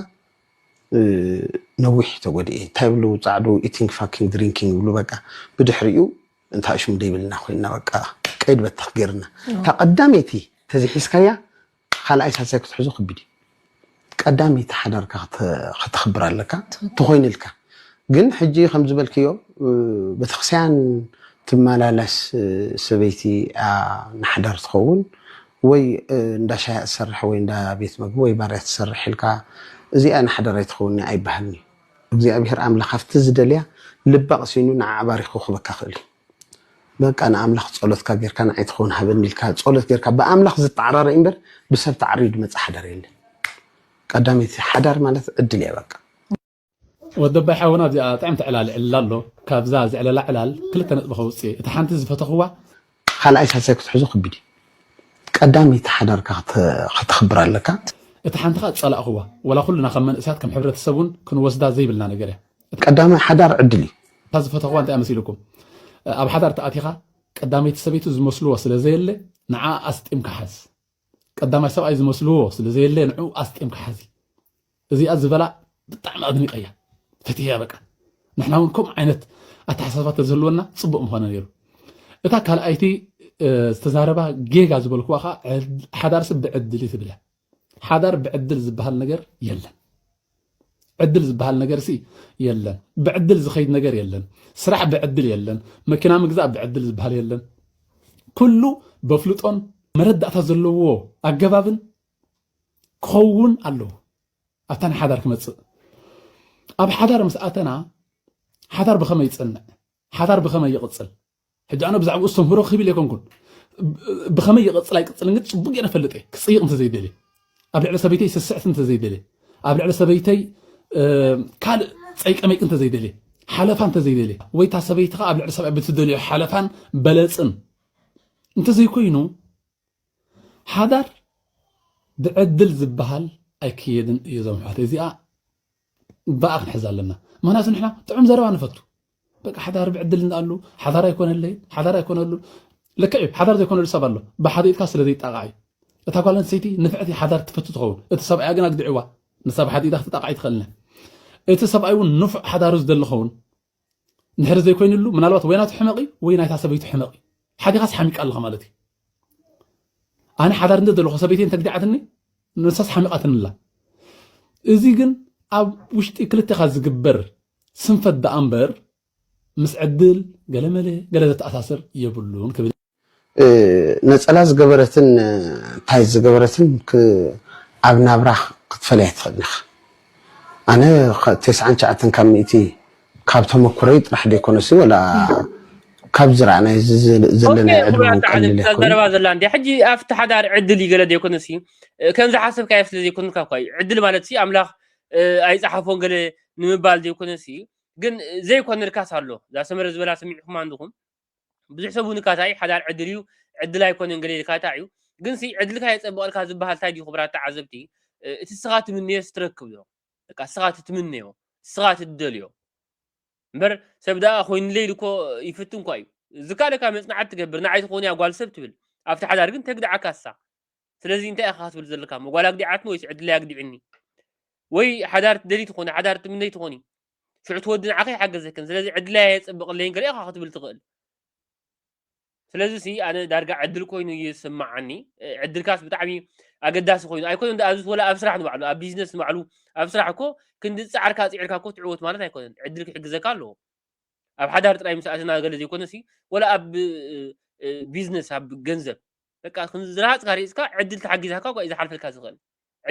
ነዊሕ ተጎዲኤ ታይ ይብሉ ጻዕዱ ኢቲንግ ፋኪንግ ድሪንኪንግ ይብሉ በቃ ብድሕሪኡ እንታይ ሽሙ ደይብልና ኮይና በቃ ቀይድ በተኽ ገርና እታ ቀዳመይቲ ተዘይ ሒዝካያ ካልኣይ ሳልሳይ ክትሕዞ ከቢድ እዩ። ቀዳመይቲ ሓዳርካ ከተኽብር ኣለካ ተኾይንልካ ግን ሕጂ ከም ዝበልክዮ ቤተክርስቲያን ትመላለስ ሰበይቲ እያ ንሓዳር ትኸውን ወይ እንዳ ሻሂ እያ ትሰርሕ ወይ እንዳ ቤት መግቢ ወይ ባር እያ ትሰርሕ ኢልካ እዚኣ ንሓዳር ኣይትኸውንንያ ኣይበሃልን እዩ። እግዚኣብሔር ኣምላኽ ኣብቲ ዝደልያ ልባ ቀሲኑ ንዓዓ ባሪኹ ክህበካ ይኽእል እዩ። በቃ ንኣምላኽ ጸሎትካ ጌርካ ንዓይ ትኸውን ሃበኒ ኢልካ ጸሎት ጌርካ ብኣምላኽ ዝተዓራረ እዩ እምበር ብሰብ ተዓርዩ ድመጽእ ሓዳር የለን። ቀዳመይቲ ሓዳር ማለት ዕድል እያ በቃ። ወዲ ኣባይ ሓውና ኣብዚኣ ጥዕምቲ ዕላል ይዕልል ኣሎ ካብዛ ዝዕለላ ዕላል ክልተ ነጥቢ ከውጽእ እታ ሓንቲ ዝፈተኽዋ ካልኣይ ሳልሳይ ክትሕዞ ከቢድ እዩ ቀዳመይቲ ሓዳርካ ከተኽብር ኣለካ። እታ ሓንቲ ከኣ ዝጸላእኽዋ ወላ ኩልና ከም መንእሰያት ከም ሕብረተሰብ ውን ክንወስዳ ዘይብልና ነገር እያ። ቀዳማይ ሓዳር ዕድል እዩ። እታ ዝፈተኽዋ እንታይ እያ መሲሉኩም ኣብ ሓዳር ተኣቲኻ ቀዳመይቲ ሰበይቱ ዝመስልዎ ስለ ዘየለ ንዓኣ ኣስጢምካ ሓዝ ቀዳማይ ሰብኣይ ዝመስልዎ ስለ ዘየለ ንዑ ኣስጢምካ ሓዚ እዚኣ ዝበላ ብጣዕሚ ኣድኒቀያ ፈትየያ በቃ ንሕና እውን ከምኡ ዓይነት ኣተሓሳስባ ተዝህልወና ፅቡቅ ምኾነ ነይሩ እታ ካልኣይቲ ዝተዛረባ ጌጋ ዝበልክዋ ከዓ ሓዳር ሰብ ብዕድል ትብለ ሓዳር ብዕድል ዝበሃል ነገር የለን። ዕድል ዝበሃል ነገር ሲ የለን። ብዕድል ዝኸይድ ነገር የለን። ስራሕ ብዕድል የለን። መኪና ምግዛእ ብዕድል ዝበሃል የለን። ኩሉ በፍልጦን መረዳእታ ዘለዎ ኣገባብን ክኸውን ኣለዎ ኣብታ ናይ ሓዳር ክመፅእ ኣብ ሓዳር ምስ ኣተና ሓዳር ብኸመይ ይፅንዕ ሓዳር ብኸመይ ይቕፅል ሕጂ ኣነ ብዛዕባኡ እስተምህሮ ክብል ኣይኮንኩን ብኸመይ ይቕጽል ኣይቅጽልን ግን ጽቡቅ ጌረ ፈልጥ እየ ክጽይቕ እንተዘይደልየ ኣብ ልዕሊ ሰበይተይ ስስዕት እንተዘይደልየ ኣብ ልዕሊ ሰበይተይ ካልእ ጸይቀመይቅ እንተዘይደልየ ሓለፋ እንተዘይደልየ ወይ እታ ሰበይትኻ ኣብ ልዕሊ ሰብኣይ ብትደልዮ ሓለፋን በለጽን እንተዘይኮይኑ ሓዳር ብዕድል ዝበሃል ኣይክየድን እዩ ዞም ኣሕዋተይ እዚኣ ብኣ ክንሕዝ ኣለና ምክንያቱ ንሕና ጥዑም ዘረባ ንፈቱ በቃ ሓዳር ብዕድልና ኣሉ ሓዳር ኣይኮነለይ ሓዳር ኣይኮነሉን ልክዕ እዩ ሓዳር ዘይኮነሉ ሰብ ኣሎ ብሓደ ኢድካ ስለ ዘይጣቃዕ እዩ እታ ጓል ኣንስተይቲ ንፍዕቲ ሓዳር ትፈቱ ትኸውን እቲ ሰብኣያ ግን ኣግዲዕዋ ንሳ ብሓደ ኢዳ ክትጣቃዕ ይትኽእልና እቲ ሰብኣይ እውን ንፉዕ ሓዳሩ ዝደሊ ኸውን ንሕሪ ዘይኮይንሉ ምናልባት ወይ ናቱ ሕመቕ ወይ ናይታ ሰበይቱ ሕመቕ ሓዲኻስ ሓሚቃ ኣለኻ ማለት እዩ ኣነ ሓዳር እንተ ዘለኹ ሰበይተይ እንተግዲዓትኒ ንሳስ ሓሚቓትኒ ኣላ እዚ ግን ኣብ ውሽጢ ክልተኻ ዝግበር ስንፈት ደኣ እምበር ምስ ዕድል ገለመለ ገለ ዘተኣሳስር የብሉን ክብል ነፀላ ዝገበረትን እንታይ ዝገበረትን ኣብ ናብራ ክትፈለያ ትኽእል ኢኻ ኣነ ተስዓን ትሽዓተን ካብ ሚእቲ ካብ ተመኩረይ ጥራሕ ደይኮነሲ ወላ ካብ ዝረኣናዮ ዘለና ኦኬ ዕድመ ኩቡራት ውን ላዕልን ቀሊል እታ ኣይኮነን ዘረባ ዘላ እንድያ ሕጂ ኣብቲ ሓዳር ዕድል እዩ ገለ ዘይኮነሲ ከም ዝሓሰብካዮ ስለ ዘይኮንካ እኳ እዩ ዕድል ማለትሲ ኣምላኽ እ፣ ኣይጸሓፎን ገለ ንምባል ዘይኮነሲ ግን ዘይኮነ ርካስ ኣሎ እዛ ሰመረ ዝበላ ሰሚዕኩማ እንድኹም ብዙሕ ሰብ እውን እካታ እዩ ሓዳር ዕድል እዩ ዕድል ኣይኮነን ገለ ኢልካታ እዩ ግን ሲ ዕድልካ የጸብቐልካ ዝበሃል እንታይ ድዩ ክቡራት ተዓዘብቲ እ፣ እቲ ንስኻ ትምንዮስ ትረክብ ዶ በቃ ንስኻ እቲ ትምነዮ ንስኻ እቲ ትደልዮ እምበር ሰብ ደኣ ኮይኑለይ ኢሉ እኮ ይፍትን እኳ እዩ ዝካለካ መፅናዕቲ ትገብር ንዓይ ትኾንያ ጓል ሰብ ትብል ኣብቲ ሓዳር ግን ተግድዓካ እሳ ስለዚ እንታይ ኢኻ ክትብል ዘለካ እሞ ጓል ኣግዲዓትኒ ወይስ ዕድለይ ኣግዲዕኒ ወይ ሓዳር ትደሊ ትኾኒ ሓዳር ትምነይ ትኾኒ ሽዑ ትወዲ ንዓኸ ይሓገዘክን ስለዚ ዕድለያ የፅብቕለይን ገለ ኢኻ ክትብል ትኽእል ስለዚ ሲ ኣነ ዳርጋ ዕድል ኮይኑ እዩ ዝስምዓኒ ዕድልካስ ብጣዕሚ ኣገዳሲ ኮይኑ ኣይኮነን ኣብዚ ወላ ኣብ ስራሕ ንባዕሉ ኣብ ቢዝነስ ንባዕሉ ኣብ ስራሕ እኮ ክንዲ ዝፃዕርካ ፅዒርካ እኮ ትዕወት ማለት ኣይኮነን ዕድል ክሕግዘካ ኣለዎ ኣብ ሓዳር ጥራይ ምስ ኣትና ገለ ዘይኮነ ሲ ወላ ኣብ ቢዝነስ ኣብ ገንዘብ በቃ ክንዲ ዝረሃፅካ ሪእፅካ ዕድል ተሓጊዛካ እኳ እዩ ዝሓልፈልካ ዝኽእል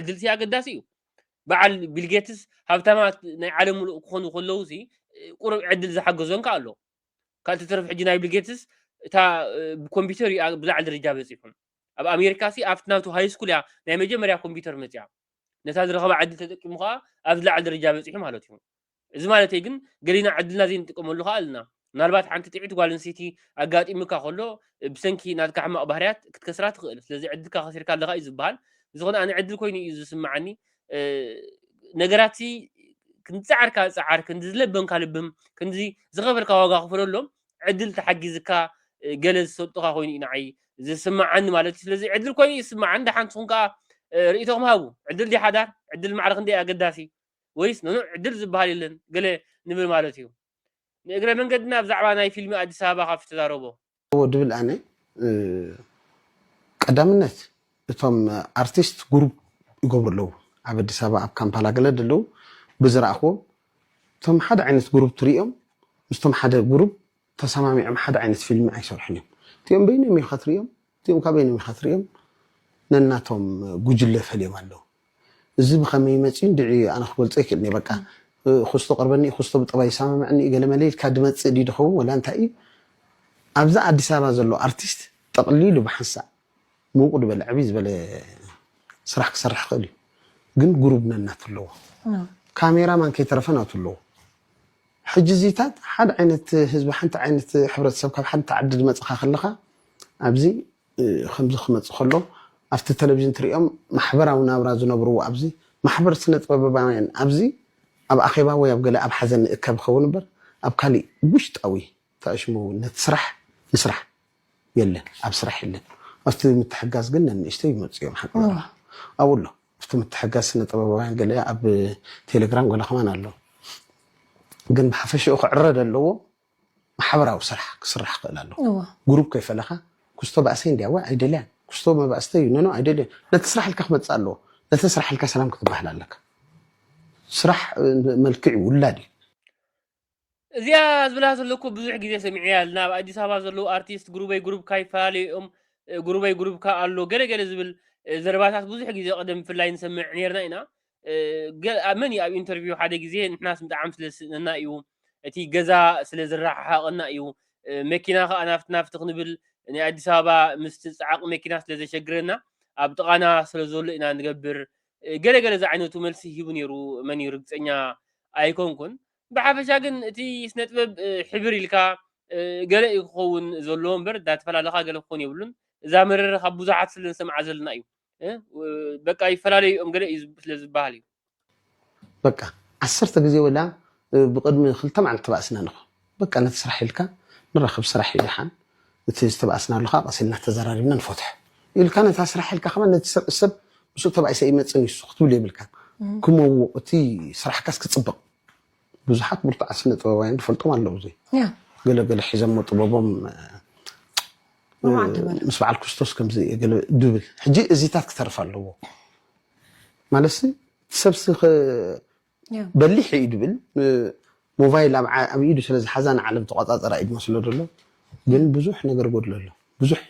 ዕድል ሲ ኣገዳሲ እዩ በዓል ቢልጌትስ ሃብታማት ናይ ዓለም ሙሉእ ክኾኑ ከለዉ ሲ ቁሩብ ዕድል ዝሓገዞም ከ ኣሎ ካብ ተተረፍ ሕጂ ናይ ብልጌትስ እታ ብኮምፒውተር እዩ ብላዕሊ ደረጃ በፂሑ ኣብ ኣሜሪካ ሲ ኣብቲ ናቱ ሃይ ስኩል እያ ናይ መጀመርያ ኮምፒውተር መፅያ ነታ ዝረኸባ ዕድል ተጠቂሙ ከዓ ኣብ ዝለዓለ ደረጃ በፂሑ ማለት እዩ እዚ ማለተይ ግን ገሊና ዕድልና ዘይንጥቀመሉ ከዓ ኣለና ምናልባት ሓንቲ ጥዒት ጓል ኣንስተይቲ ኣጋጢሙካ ከሎ ብሰንኪ ናትካ ሕማቕ ባህርያት ክትከስራ ትኽእል ስለዚ ዕድልካ ከሲርካ ኣለካ እዩ ዝበሃል ብዝኾነ ኣነ ዕድል ኮይኑ እዩ ዝስምዓኒ ነገራት ክንዲ ፃዕርካ ፃዓር ክንዲ ዝለበምካ ልብም ክንዲ ዝኸበርካ ዋጋ ክፍለሎም ዕድል ተሓጊዝካ ገለ ዝሰልጡኻ ኮይኑ እዩ ንዓይ ዝስማዓኒ ማለት እዩ ስለዚ ዕድል ኮይኑ እዩ ዝስማዓኒ ደሓን ንስኹም ከዓ ርእቶኹም ሃቡ ዕድል ድያ ሓዳር ዕድል ማዕረ ክንደይ ኣገዳሲ ወይስ ኖኖ ዕድል ዝበሃል የለን ገለ ንብል ማለት እዩ ንእግረ መንገድና ብዛዕባ ናይ ፊልሚ ኣዲስ ኣበባ ካብ ዝተዛረቦ እዎ ድብል ኣነ ቀዳምነት እቶም ኣርቲስት ጉሩብ ይገብሩ ኣለዉ ኣብ ኣዲስ ኣበባ ኣብ ካምፓላ ገለ ደለዉ ብዝረኣክዎም እቶም ሓደ ዓይነት ጉሩብ ትሪኦም ምስቶም ሓደ ጉሩብ ተሰማሚዕም ሓደ ዓይነት ፊልሚ ኣይሰርሑን እዮም እቲኦም በይኖም ኢካ ትሪኦም እቲኦም ካበይኖም ኢካ ትሪኦም ነናቶም ጉጅለ ፈልዮም ኣለዉ። እዚ ብኸመይ መጺኡ እንድዒ ኣነ ክገልጾ ኣይክእልን እየ በቃ ኩስቶ ቀርበኒ እዩ ኩስቶ ብጠባይ ይሰማምዕኒ እዩ ገለመለ ኢልካ ድመጽእ ድዩ ድኸውን ወላ እንታይ እዩ ኣብዛ ኣዲስ ኣበባ ዘሎ ኣርቲስት ጠቕሊሉ ብሓንሳእ ምውቕ ድበለ ዕብይ ዝበለ ስራሕ ክሰርሕ ይኽእል እዩ ግን ጉሩብ ነናቱ ኣለዎ ካሜራማን ከይተረፈ ናቱ ኣለዎ ሕጂ እዚታት ሓደ ዓይነት ህዝቢ ሓንቲ ዓይነት ሕብረተሰብ ካብ ሓንቲ ዓዲ ድመጽኻ ከለኻ ኣብዚ ከምዚ ክመጽእ ከሎ ኣብቲ ተለቪዥን ትርእዮም ማሕበራዊ ናብራ ዝነብርዎ ኣብዚ ማሕበር ስነጥበበባውያን ኣብዚ ኣብ ኣኼባ ወይ ኣብ ገለ ኣብ ሓዘን ንእከብ ይኸውን እምበር ኣብ ካሊእ ውሽጣዊ ተኣሽሙ ነቲ ስራሕ ምስራሕ የለን ኣብ ስራሕ የለን ኣብቲ ምትሕጋዝ ግን ነንእሽተይ ይመጹ እዮም ሓቂ ዘረባ ኣብኡ ኣሎ ኣብቲ ምትሕጋዝ ስነጥበበባውያን ገለ ኣብ ቴሌግራም ገለ ከማን ኣሎ ግን ብሓፈሽኡ ክዕረ ዘለዎ ማሕበራዊ ስራሕ ክስራሕ ይኽእል ኣሎ። ጉሩብ ከይፈለኻ ኩስቶ ባእሰይ እንድያ ዋይ ኣይደልያን ኩስቶ መባእስተይ እዩ ኖኖ ኣይደልዮን ነቲ ስራሕ ኢልካ ክመጽእ ኣለዎ ነቲ ስራሕ ኢልካ ሰላም ክትበሃል ኣለካ ስራሕ መልክዕ እዩ ውላድ እዩ እዚኣ ዝብላ ዘለኩ ብዙሕ ግዜ ሰሚዐያ ልና ኣብ ኣዲስ ኣበባ ዘለዉ ኣርቲስት ጉሩበይ ጉሩብካ ይፈላለዩ እዮም ጉሩበይ ጉሩብካ ኣሎ ገለ ገለ ዝብል ዘረባታት ብዙሕ ግዜ ቅድም ብፍላይ ንሰምዕ ኔርና ኢና ገ- መን እዩ ኣብ ኢንተርቪው ሓደ ግዜ ንሕናስ ብጣዕሚ ስለ ዝስእነና እዩ እቲ ገዛ ስለ ዝረሓሓቐና እዩ እ፣ መኪና ከዓ ናፍቲ ናፍቲ ክንብል ናይ ኣዲስ ኣበባ ምስቲ ፃዕቂ መኪና ስለ ዘሸግረና ኣብ ጥቓና ስለ ዘሎ ኢና ንገብር እ፣ ገለ ገለ ዝዓይነቱ መልሲ ሂቡ ነይሩ መን እዩ ርግፀኛ ኣይኮንኩን ብሓፈሻ ግን እቲ ስነ ጥበብ እ፣ ሕብር ኢልካ እ፣ ገለ እዩ ክኸውን ዘለዎ እምበር እዳ ተፈላለኻ ገለ ክኾን የብሉን እዛ መረረ ካብ ብዙሓት ስለ ንሰምዓ ዘለና እዩ በቃ ይፈላለዩ እዮም ገለ እዩ ስለ ዝበሃል እዩ በቃ ዓሰርተ ግዜ ወላ ብቅድሚ ክልተ መዓልቲ ተባእስና ንኽ በቃ ነቲ ስራሕ ኢልካ ንራኸብ ስራሕ እዩ ደሓን እቲ ዝተባእስናሉ ከዓ ቀስ ኢልና ተዘራሪብና ንፈትሖ ኢልካ ነታ ስራሕ ኢልካ ከማ ነቲ ሰብ እሰብ ምስኡ ተባኢሰ ይመፅን እዩ እሱ ክትብል የብልካን ክመውቕ እቲ ስራሕካስ ክፅብቕ ብዙሓት ብርቱዓት ስነ ጥበባውያን ትፈልጦም ኣለዉ እዚ ገለ ገለ ሒዘሞ ጥበቦም ምስ በዓል ክርስቶስ ከምዚ ገለ ድብል ሕጂ እዚታት ክተርፍ ኣለዎ ማለትሲ ሰብሲ በሊሕ እዩ ድብል ሞባይል ኣብ ኢዱ ስለ ዝሓዛ ንዓለም ተቆፃፀራ እዩ ዝመስሎ ዘሎ ግን ብዙሕ ነገር ጎድሎ ኣሎ ብዙሕ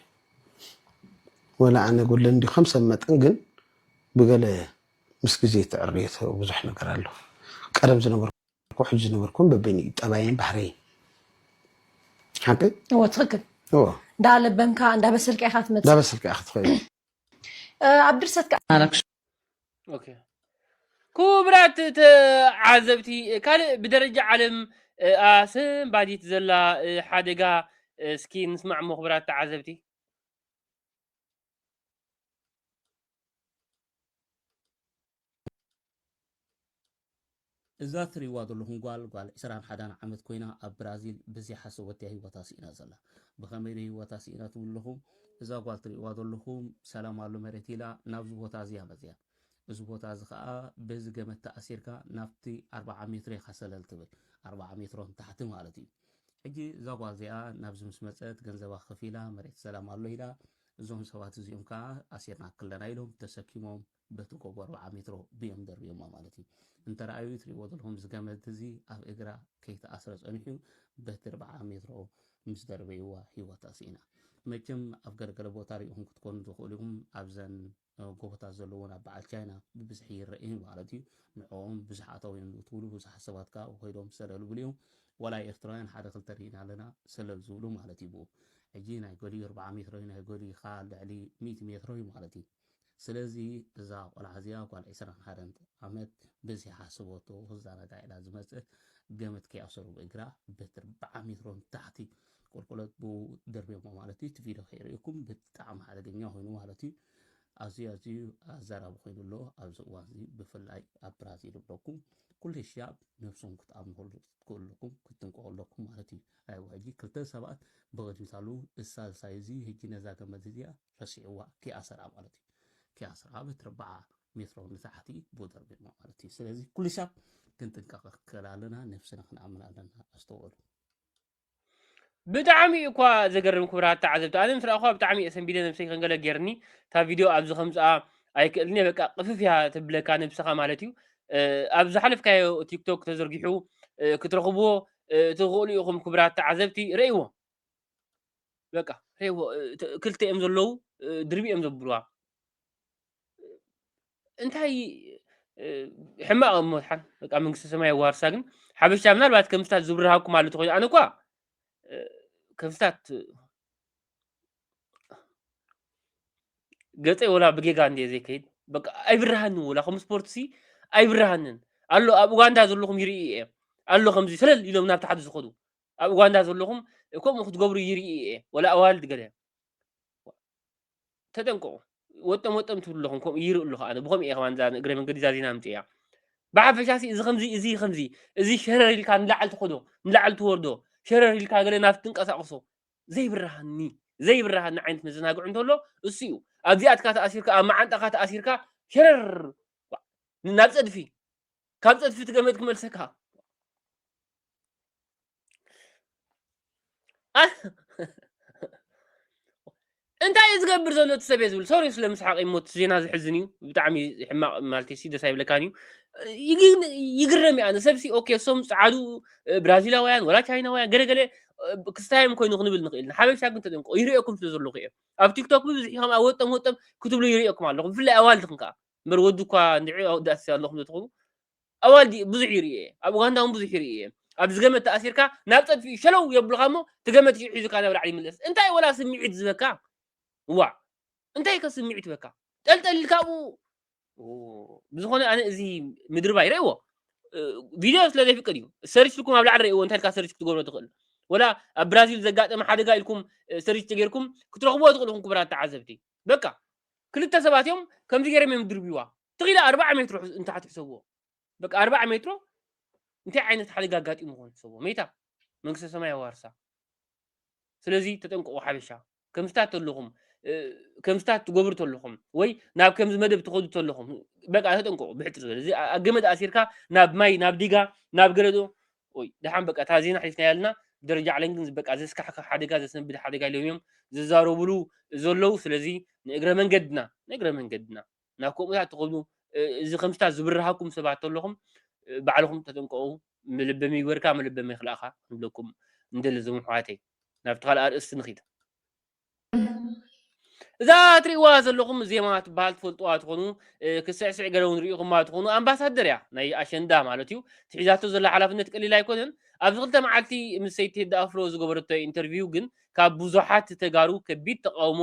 ወላ ኣነ ጎድለኒ እንዲ ከም ሰብ መጠን ግን ብገለ ምስ ግዜ እትዕርዮ ብዙሕ ነገር ኣሎ ቀደም ዝነበርኩ ሕጂ ዝነበርኩን በበይኑ እዩ ጠባየን ባህረይን ሓቂ እዎ ትክክል እዎ እንዳለበምካ እንዳበሰልካ ኢካ ትመፅእ እንዳበሰልካ ኢካ ትኸይድ ኣብ ድርሰት ክቡራት ተዓዘብቲ ካልእ ብደረጃ ዓለም ኣሰንባዲት ዘላ ሓደጋ እስኪ ንስማዕ ሞ ክቡራት ተዓዘብቲ እዛ ትሪእዋ ዘለኹም ጓል ጓል ዕስራን ሓዳን ዓመት ኮይና ኣብ ብራዚል ብዘይሓሰብ ወዲኣ ህይወታ ስኢና ዘላ ብኸመይ ዶ ህይወታ ስኢና ትብሉ ኣለኹም እዛ ጓል ትሪእዋ ዘለኹም ሰላም ኣሎ መሬት ኢላ ናብዚ ቦታ እዚያ መጺኣ እዚ ቦታ እዚ ከኣ በዚ ገመድ ተኣሲርካ ናብቲ ኣርብዓ ሜትሮ ኢኻ ሰለል ትብል። ኣርብዓ ሜትሮ ንታሕቲ ማለት እዩ። ሕጂ እዛ ጓል እዚኣ ናብዚ ምስ መጸት ገንዘባ ከፊላ መሬት ሰላም ኣሎ ኢላ፣ እዞም ሰባት እዚኦም ከኣ ኣሲርናኪ ኣለና ኢሎም ተሰኪሞም በቲ ጎቦ ኣርብዓ ሜትሮ ብዮም ደርብዮማ ማለት እዩ። እንተርኣዩ እዩ ትርእይዎ ዘለኹም እዚ ገመድ እዚ ኣብ እግራ ከይተኣስረ ጸኒሑ እዩ። በቲ ኣርብዓ ሜትሮ ምስ ደርበይዋ ህይወታ ስኢና። መቸም ኣብ ገለገለ ቦታ ርኢኹም ክትኮኑ ትኽእሉ ኢኹም ኣብዘን ጎቦታት ዘለወን ኣብ በዓል ቻይና ብብዝሒ ይረእየን ማለት እዩ ንዕኦም ብዙሕ ኣታውዮም ዝእትውሉ ብዙሓት ሰባት ከኣ ከይዶም ሰለል ይብሉ እዮም ዋላ ኤርትራውያን ሓደ ክልተ ርኢና ኣለና ሰለል ዝብሉ ማለት እዩ ብኡ ሕጂ ናይ ገሊኡ ኣርብዓ ሜትሮ እዩ ናይ ገሊኡ ከኣ ልዕሊ ሚእቲ ሜትሮ እዩ ማለት እዩ ስለዚ እዛ ቆልዓ እዚኣ ጓል ዕስራን ሓደን ዓመት በዚ ሓስበቶ ክዘናጋዕ ኢላ ዝመጽእ ገመድ ከይኣሰሩ ብእግራ በቲ ኣርብዓ ሜትሮ ንታሕቲ ቁልቁለት ብኡ ደርብዮሞ ማለት እዩ እቲ ቪድዮ ከይርእኩም ብጣዕሚ ሓደገኛ ኮይኑ ማለት እዩ ኣዝዩ ኣዝዩ ኣዘራቢ ኮይኑ ኣሎ ኣብዚ እዋን እዚ ብፍላይ ኣብ ብራዚል ይብለኩም ኩሉ ሻብ ነብሶም ክትኣምንሉ ትክእሉኩም ክትንቀቁ ኣለኩም ማለት እዩ ኣይዋ ሕጂ ክልተ ሰባት ብቅድሚት ኣለዉ እሳልሳይ እዚ ሕጂ ነዛ ገመድ እዚኣ ረሲዕዋ ኪኣሰራ ማለት እዩ ኪኣሰራ በቲ ርብዓ ሜትሮ ንታሕቲ ብኡ ደርብሞ ማለት እዩ ስለዚ ኩሉ ሻብ ክንጥንቀቅ ክእል ኣለና ነብስና ክንኣምን ኣለና ኣስተውዕሉ ብጣዕሚ እዩ እኳ ዘገርም ክብራት ተዓዘብቲ ኣነ ምስ ረኣኹዋ ብጣዕሚ እየ ሰንቢደ ነብሰይ ከንገለ ጌርኒ እታ ቪድዮ ኣብዚ ከምጽኣ ኣይክእልን እየ በቃ ቅፍፍ እያ ተብለካ ነብስኻ ማለት እዩ ኣብ ዝሓለፍካዮ ቲክቶክ ተዘርጊሑ ክትረኽብዎ ትኽእሉ ኢኹም ክብራት ተዓዘብቲ ረእይዎ በቃ ረእይዎ ክልተ እዮም ዘለዉ ድርቢ እዮም ዘብልዋ እንታይ ሕማቕ እሞ ሓን በቃ መንግስተ ሰማይ ዋርሳ ግን ሓበሻ ምናልባት ከምስታት ዝብርሃኩም ኣሎ ተኮይኑ ኣነ እኳ ከምስታት ገፀይ ወላ ብጌጋ እንደ ዘይከይድ በቃ ኣይብርሃንን ወላ ከም ስፖርት ሲ ኣይብርሃንን ኣሎ ኣብ ኡጋንዳ ዘለኹም ይርኢ እየ ኣሎ ከምዚ ሰለል ኢሎም ናብ ታሕቲ ዝኸዱ ኣብ ኡጋንዳ ዘለኹም ከምኡ ክትገብሩ ይርኢ እየ ወላ ኣዋልድ ገለ ተጠንቀቑ ወጠም ወጠም ትብሉ ኣለኹም ከምኡ ይርኢ ኣለኹ ኣነ ብኸምኡ እየ ከማን እዛ እግረ መንገዲ ዛዚና ኣምፅያ ብሓፈሻ ሲ እዚ ከምዚ እዚ ከምዚ እዚ ሸረር ኢልካ ንላዕል ትኸዶ ንላዕል ትወርዶ ሸረር ኢልካ ገለ ናብቲ ትንቀሳቕሶ ዘይብርሃኒ ዘይብርሃኒ ዓይነት መዘናግዕ እንተሎ እሱ እዩ ኣብዚኣትካ ተኣሲርካ ኣብ መዓንጣኻ ተኣሲርካ ሸረር ናብ ፀድፊ ካብ ፀድፊ ትገመት ክመልሰካ እንታይ እዩ ዝገብር ዘሎ እቲ ሰብ እየ ዝብል ሶሪ ስለ ምስሓቅ እሞ እቲ ዜና ዝሕዝን እዩ ብጣዕሚ ሕማቅ ማለት ሲ ደስ ኣይብለካን እዩ ግን ይግረም እዩ ኣነ ሰብሲ ኦኬ እሶም ፀዓዱ ብራዚላውያን ወላ ቻይናውያን ገለገለ ክስታዮም ኮይኑ ክንብል ንኽእል ኢና ሓበሻ ግን ተጠንቀቁ ይርእየኩም ስለ ዘለኹ እየ ኣብ ቲክቶክ ብብዝሒ ከም ኣብ ወጠም ወጠም ክትብሉ ይርእየኩም ኣለኹም ብፍላይ ኣዋልድኹም ከዓ እምበር ወዲ እኳ ንዕ ኣወዳእሲ ኣለኹም ዘትኾኑ ኣዋልድ ብዙሕ ይርኢ እየ ኣብ ኡጋንዳ ውን ብዙሕ ይርኢ እየ ኣብዚ ገመድ ተኣሲርካ ናብ ጸድፊ ሸለው የብሉካ እሞ እቲ ገመድ ሽዑ ሒዙካ ናብ ላዕሊ ይምለስ እንታይ ወላ ስምዒት ዝበካ ዋእ እንታይ ከ ስምዒት በካ ጠልጠል ኢልካ ኣብኡ ብዝኾነ ኣነ እዚ ምድርባይ ረእዎ ቪድዮ ስለ ዘይፍቅድ እዩ ሰርች ኢልኩም ኣብ ላዕሊ ረእዎ እንታይ ኢልካ ሰርች ክትገብሮ ትኽእል ወላ ኣብ ብራዚል ዘጋጠመ ሓደጋ ኢልኩም ሰርች ተጌርኩም ክትረኽብዎ ትኽእልኹም ክብራት ተዓዘብቲ በቃ ክልተ ሰባት እዮም ከምዚ ገይሮም እዮም ድርብዋ ትኽ ኢለ ኣርብዓ ሜትሮ ሕዝ- እንተ ትሕሰብዎ በቃ ኣርብዓ ሜትሮ እንታይ ዓይነት ሓደጋ ኣጋጢሙ ኾን ትሕሰብዎ ሜታ መንግስተ ሰማይ ኣዋርሳ ስለዚ ተጠንቀቑ ሓበሻ ከምስታት ተለኹም እ፣ ከምስታት ትገብሩ ተለኹም ወይ ናብ ከምዚ መደብ ትኸዱ ተለኹም በቃ ተጠንቀቑ ብሕፅር ዝበለ እዚ ኣ- ገመድ ኣሲርካ ናብ ማይ ናብ ዲጋ ናብ ገለ ዶ ወይ ድሓን በቃ እታ ዜና ሓሊፍናያ ኣለና ደረጃ ዓለም ግን በቃ ዘስካሕክሕ ሓደጋ ዘሰንብድ ሓደጋ ኢሎም እዮም ዝዛረብሉ ዘለዉ ስለዚ ንእግረ መንገድና ንእግረ መንገድና ናብ ከምኡታት ትኸዱ እዚ ከምስታት ዝብርሃኩም ሰባት ተለኹም ባዕልኹም ተጠንቀቑ መለበሚ ይግበርካ መለበሚ ይኽልእኻ ንብለኩም ንደሊ ዞም ኣሕዋተይ ናብቲ ካልእ ኣርእስቲ ንኺድ እዛ ትሪእዋ ዘለኹም ዜማ ትበሃል ትፈልጥዋ ትኾኑ ክስዕስዕ ገለ እውን ርኢኹማ ትኾኑ ኣምባሳደር እያ ናይ ኣሸንዳ ማለት እዩ ትሒዛቶ ዘላ ሓላፍነት ቀሊል ኣይኮነን ኣብዚ ክልተ መዓልቲ ምስ ሰይቲ ሄዳ ኣፍሮ ዝገበረቶ ኢንተርቪው ግን ካብ ብዙሓት ተጋሩ ከቢድ ተቃውሞ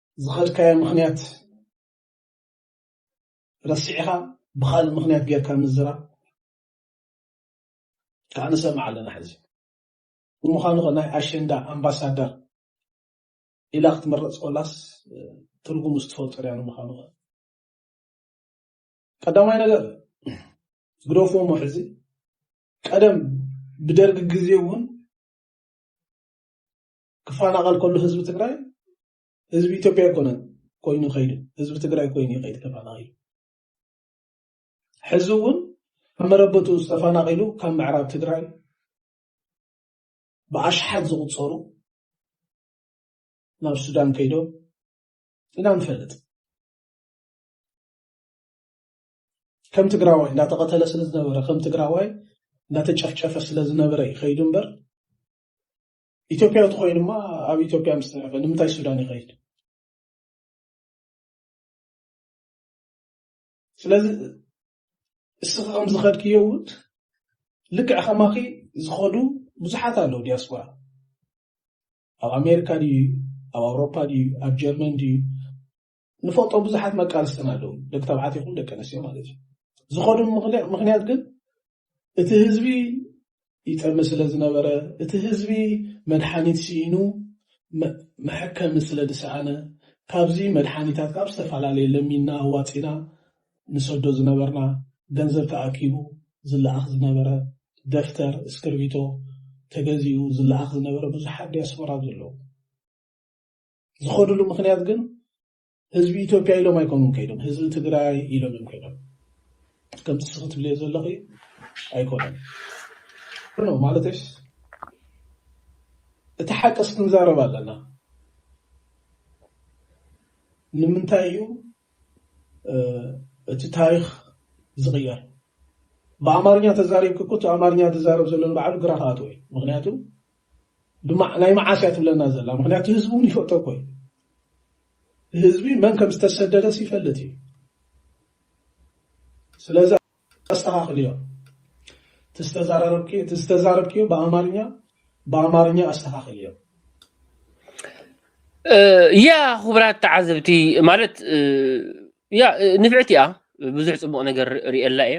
ዝኸድካዮ ምኽንያት ረሲዕኻ ብኻልእ ምኽንያት ጌርካ ምዝራብ ከዓ ንሰምዕ ኣለና ሕዚ ንምዃኑ ከ ናይ ኣሸንዳ ኣምባሳደር ኢላ ክትመረፅ ኮላስ ትርጉም ዝትፈልጦ ሪያ ንምዃኑ ከ ቀዳማይ ነገር ግደፍዎ ሞ ሕዚ ቀደም ብደርጊ ግዜ እውን ክፋናቐል ከሎ ህዝቢ ትግራይ ህዝቢ ኢትዮጵያ ኣይኮነን ኮይኑ ከይዱ ህዝቢ ትግራይ ኮይኑ ይኸይድ ተፈናቒሉ ሕዚ እውን ኣብ መረበቱ ዝተፈናቒሉ ካብ ምዕራብ ትግራይ ብኣሽሓት ዝቑፀሩ ናብ ሱዳን ከይዶም ኢና ንፈልጥ ከም ትግራዋይ እንዳተቐተለ ስለ ዝነበረ ከም ትግራዋይ እንዳተጨፍጨፈ ስለ ዝነበረ ይኸይዱ እምበር ኢትዮጵያ ተኮይኑ እማ ኣብ ኢትዮጵያ ምስ ተረፈ ንምንታይ ሱዳን ይኸይድ? ስለዚ እስኺ ከም ዝኸድክዮ እውን ልክዕ ከማኺ ዝኸዱ ብዙሓት ኣለዉ ዲያስፖራ ኣብ ኣሜሪካ ድዩ ኣብ ኣውሮፓ ድዩ ኣብ ጀርመን ድዩ ንፈልጦ ብዙሓት መቃልስትና ኣለዉ ደቂ ተባዕት ይኹን ደቂ ኣንስትዮ ማለት እዩ ዝኾኑ ምክንያት ግን እቲ ህዝቢ ይጠሚ ስለ ዝነበረ እቲ ህዝቢ መድሓኒት ስኢኑ መሐከሚ ስለ ዝሰኣነ ካብዚ መድሓኒታት ካብ ዝተፈላለየ ለሚና ኣዋፂና ንሰዶ ዝነበርና ገንዘብ ተኣኪቡ ዝለኣኽ ዝነበረ ደፍተር እስክርቢቶ ተገዚኡ ዝለኣኽ ዝነበረ ብዙሓት ዲያስፖራ ዘለዉ ዝኸድሉ ምክንያት ግን ህዝቢ ኢትዮጵያ ኢሎም ኣይኮኑን ከይዶም ህዝቢ ትግራይ ኢሎም እዮም ከይዶም ከምቲ ንስኺ ትብልዮ ዘለኺ ኣይኮነን ኖ ማለተሽ እቲ ሓቅስ ክንዛረብ ኣለና ንምንታይ እዩ እቲ ታሪክ ዝቕየር ብኣማርኛ ተዛሪብክ እኮ እቲ ኣማርኛ ዝዛረብ ዘሎ ንባዕሉ ግራ ክኣትዎ እዩ ምክንያቱ ናይ መዓስ እያ ትብለና ዘላ ምክንያቱ ህዝቢ እውን ይፈልጦ እኮ እዩ ህዝቢ መን ከም ዝተሰደደስ ይፈልጥ እዩ ስለዚ ኣስተኻኽልዮ እቲ ዝተዛረብክዮ ብኣማርኛ ብኣማርኛ ኣስተኻኽልዮ ያ ክቡራት ተዓዘብቲ ማለት ያ ንፍዕቲ እያ ብዙሕ ፅቡቅ ነገር ሪኤላ እየ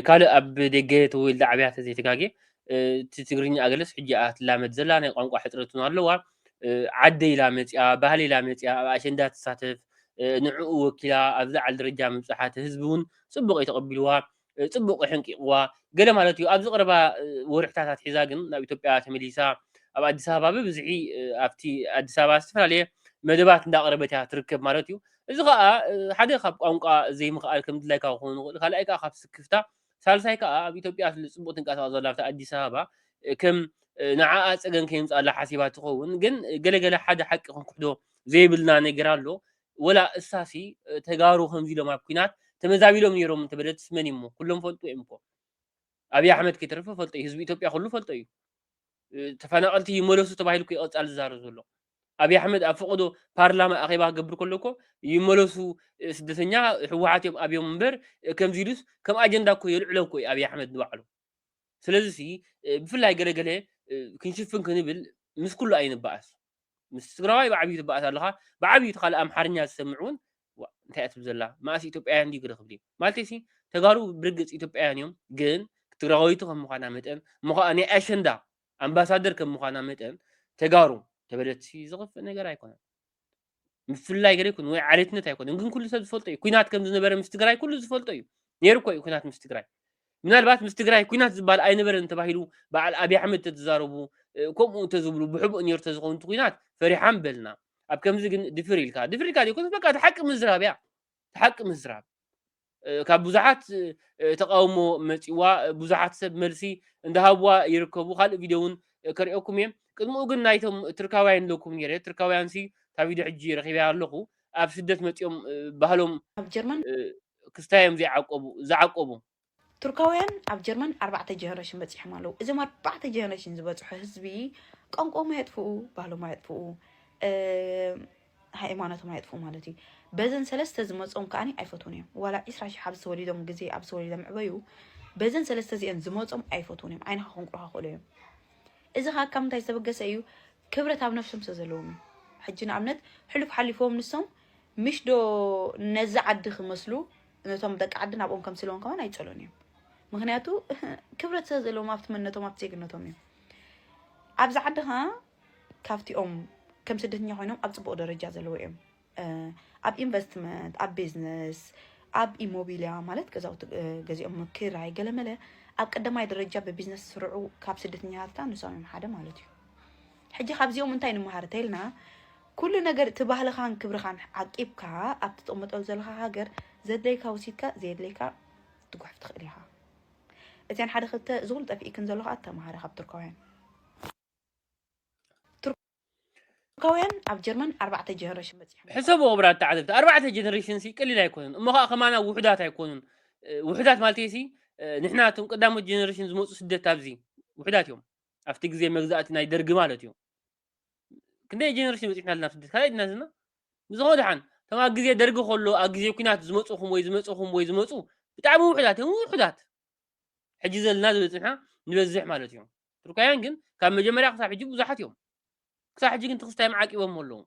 ካልእ ኣብ ደገ ተወልደ ዓብያ ተዘይተጋጌ እቲ ትግርኛ ኣገለስ ሕጂ እያ ትላመድ ዘላ ናይ ቋንቋ ሕፅረት እውን ኣለዋ ዓደይ ኢላ መፅያ ባህሊ ኢላ መፅያ ኣብ ኣሸንዳ ትሳተፍ ንዕኡ ወኪላ ኣብ ዝዓል ደረጃ ምብፅሓ እቲ ህዝቢ እውን ፅቡቕ እዩ ተቐቢልዋ ፅቡቕ ሕንቂቕዋ ገለ ማለት እዩ ኣብዚ ቀረባ ወርሕታት ኣትሒዛ ግን ናብ ኢትዮጵያ ተመሊሳ ኣብ ኣዲስ ኣበባ ብብዝሒ ኣብቲ ኣዲስ ኣበባ ዝተፈላለየ መደባት እንዳቕረበት እያ ትርከብ ማለት እዩ እዚ ከዓ ሓደ ካብ ቋንቋ ዘይምኽኣል ከም ድላይካ ክኸውን ይኽእል ካልኣይ ከዓ ካብ ስክፍታ ሳልሳይ ከኣ ኣብ ኢትዮጵያ ኣፍሊ ጽቡቅ ትንቀሳቀስ ዘላ ኣብታ ኣዲስ ኣበባ ከም ንዓኣ ጸገም ከየምጽኣላ ሓሲባ ትኸውን ግን ገለ ገለ ሓደ ሓቂ ክንክሕዶ ዘይብልና ነገር ኣሎ ወላ እሳሲ ተጋሩ ከምዚ ኢሎም ኣብ ኩናት ተመዛቢሎም ነይሮም እንተበለትስ መን እዩሞ ኩሎም ፈልጡ እዮም እኮ ኣብይ ኣሕመድ ከይተረፈ ፈልጦ እዩ ህዝቢ ኢትዮጵያ ኩሉ ፈልጦ እዩ ተፈናቀልቲ ይመለሱ ተባሂሉ እኮ ይቀጻል ዝዛረብ ዘሎ ኣብይ ኣሕመድ ኣብ ፈቀዶ ፓርላማ ኣኼባ ክገብር ከሎ እኮ ይመለሱ ስደተኛ ህወሓት እዮም ኣብዮም እምበር ከምዚ ኢሉስ ከም ኣጀንዳ እኮ የልዕሎ እኮ እዩ ኣብይ ኣሕመድ ንባዕሉ ስለዚ ሲ ብፍላይ ገለገለ ክንሽፍን ክንብል ምስ ኩሉ ኣይንበኣስ ምስ ትግራዋይ ብዓብዩ ትበኣስ ኣለኻ ብዓብዩ እቲ ካልእ ኣምሓርኛ ዝሰምዕ እውን እንታይ እትብል ዘላ መኣስ ኢትዮጵያውያን ድዩ ገለ ክብል እዩ ማለት ሲ ተጋሩ ብርግፅ ኢትዮጵያውያን እዮም ግን ትግራወይቲ ከም ምዃና መጠን እሞ ከዓ ናይ ኣሸንዳ ኣምባሳደር ከም ምዃና መጠን ተጋሩ ተበለፅቲ ዝኽፍእ ነገር ኣይኮነን። ምፍላይ ገለ ይኩን ወይ ዓሌትነት ኣይኮነን፣ ግን ኩሉ ሰብ ዝፈልጦ እዩ። ኩናት ከም ዝነበረ ምስ ትግራይ ኩሉ ዝፈልጦ እዩ። ነይሩ እኮ እዩ ኩናት ምስ ትግራይ። ምናልባት ምስ ትግራይ ኩናት ዝበሃል ኣይነበረን ተባሂሉ በዓል ኣብዪ ኣሕመድ ተዝዛረቡ እ፣ ከምኡ እንተዝብሉ ብሕቡእ ነይሩ ተዝኸውን እቲ ኩናት ፈሪሓም በልና። ኣብ ከምዚ ግን ድፍር ኢልካ ድፍር ኢልካ ዘይኮነስ በቃ እቲ ሓቂ ምዝራብ እያ። እቲ ሓቂ ምዝራብ ካብ ብዙሓት ተቃውሞ መጺዋ ብዙሓት ሰብ መልሲ እንዳሃብዋ ይርከቡ ካልእ ቪድዮ እውን ከሪኦኩም እየ ቅድምኡ ግን ናይቶም ትርካውያን ኢለኩም ነይረ ትርካውያን ሲ እታ ቪድዮ ሕጂ ረኺበያ ኣለኹ ኣብ ስደት መጺኦም ባህሎም ኣብ ጀርመን ክስታዮም ዘይዓቀቡ ዝዓቀቡ ቱርካውያን ኣብ ጀርመን ኣርባዕተ ጀነሬሽን በፂሖም ኣለዉ እዞም ኣርባዕተ ጀነሬሽን ዝበፅሑ ህዝቢ ቋንቋኦም ኣየጥፍኡ ባህሎም ኣየጥፍኡ ሃይማኖቶም ኣየጥፍኡ ማለት እዩ በዘን ሰለስተ ዝመፆም ከዓኒ ኣይፈትውን እዮም ዋላ ዒስራ ሽሕ ኣብ ዝተወሊዶም ግዜ ኣብ ዝተወሊዶም ዕበዩ በዘን ሰለስተ እዚአን ዝመፆም ኣይፈትውን እዮም ዓይንኻ ክንቁርካ ክእሉ እዮም እዚ ከዓ ካብ ምንታይ ዝተበገሰ እዩ ክብረት ኣብ ነፍሶም ስለ ዘለዎም እዩ ሕጂ ንኣብነት ሕሉፍ ሓሊፎም ንሶም ምሽ ዶ ነዚ ዓዲ ክመስሉ ነቶም ደቂ ዓዲ ናብኦም ከምስለዎም ከማን ኣይፀሉን እዮም ምክንያቱ ክብረት ስለ ዘለዎም ኣብቲ መንነቶም ኣብቲ ዜግነቶም እዮም ኣብዚ ዓዲ ከዓ ካብቲኦም ከም ስደተኛ ኮይኖም ኣብ ፅቡቅ ደረጃ ዘለዎ እዮም ኣብ ኢንቨስትመንት ኣብ ቢዝነስ ኣብ ኢሞቢልያ ማለት ገዛውቲ ገዚኦም ምክራይ ገለመለ ኣብ ቀዳማይ ደረጃ ብቢዝነስ ዝስርዑ ካብ ስደተኛታትና ንሶም እዮም ሓደ ማለት እዩ ሕጂ ካብዚኦም እንታይ ንምሃር ተይልና ኩሉ ነገር እቲ ባህልኻን ክብርኻን ዓቂብካ ኣብ ትጥቕመጠሉ ዘለኻ ሃገር ዘድለይካ ወሲድካ ዘየድለይካ ትጉሕፍ ትኽእል ኢኻ እዚኣን ሓደ ክልተ ዝኹሉ ጠፊእክን ዘለኹ ኣተምሃረ ካብ ቱርካውያን ቱርካውያን ኣብ ጀርመን ኣርባዕተ ጀነሬሽን በፂሖም ሕሰቡ ክቡራት ተዓዘብቲ ኣርባዕተ ጀነሬሽን ሲ ቀሊል ኣይኮኑን እሞ ከዓ ከማና ውሑዳት ኣይኮኑን ውሑዳት ማለት ሲ ንሕና እቶም ቀዳሞት ጀነሬሽን ዝመፁ ስደት ኣብዚ ውሑዳት እዮም ኣብቲ ግዜ መግዛእቲ ናይ ደርጊ ማለት እዩ ክንደይ ጀነሬሽን በፂሕና ኣለና ስደት ካልኣይ ድና ዘለና ብዝኾነ ድሓን እቶም ኣብ ግዜ ደርጊ ከሎ ኣብ ግዜ ኩናት ዝመፅኹም ወይ ዝመፅኹም ወይ ዝመፁ ብጣዕሚ ውሑዳት እዮም ውሑዳት ሕጂ ዘለና ዝበፅሕና ንበዝሕ ማለት እዩ ቱርካውያን ግን ካብ መጀመርያ ክሳብ ሕጂ ብዙሓት እዮም ክሳብ ሕጂ ግን ትኽስታዮም ዓቂቦሞ ኣለዉ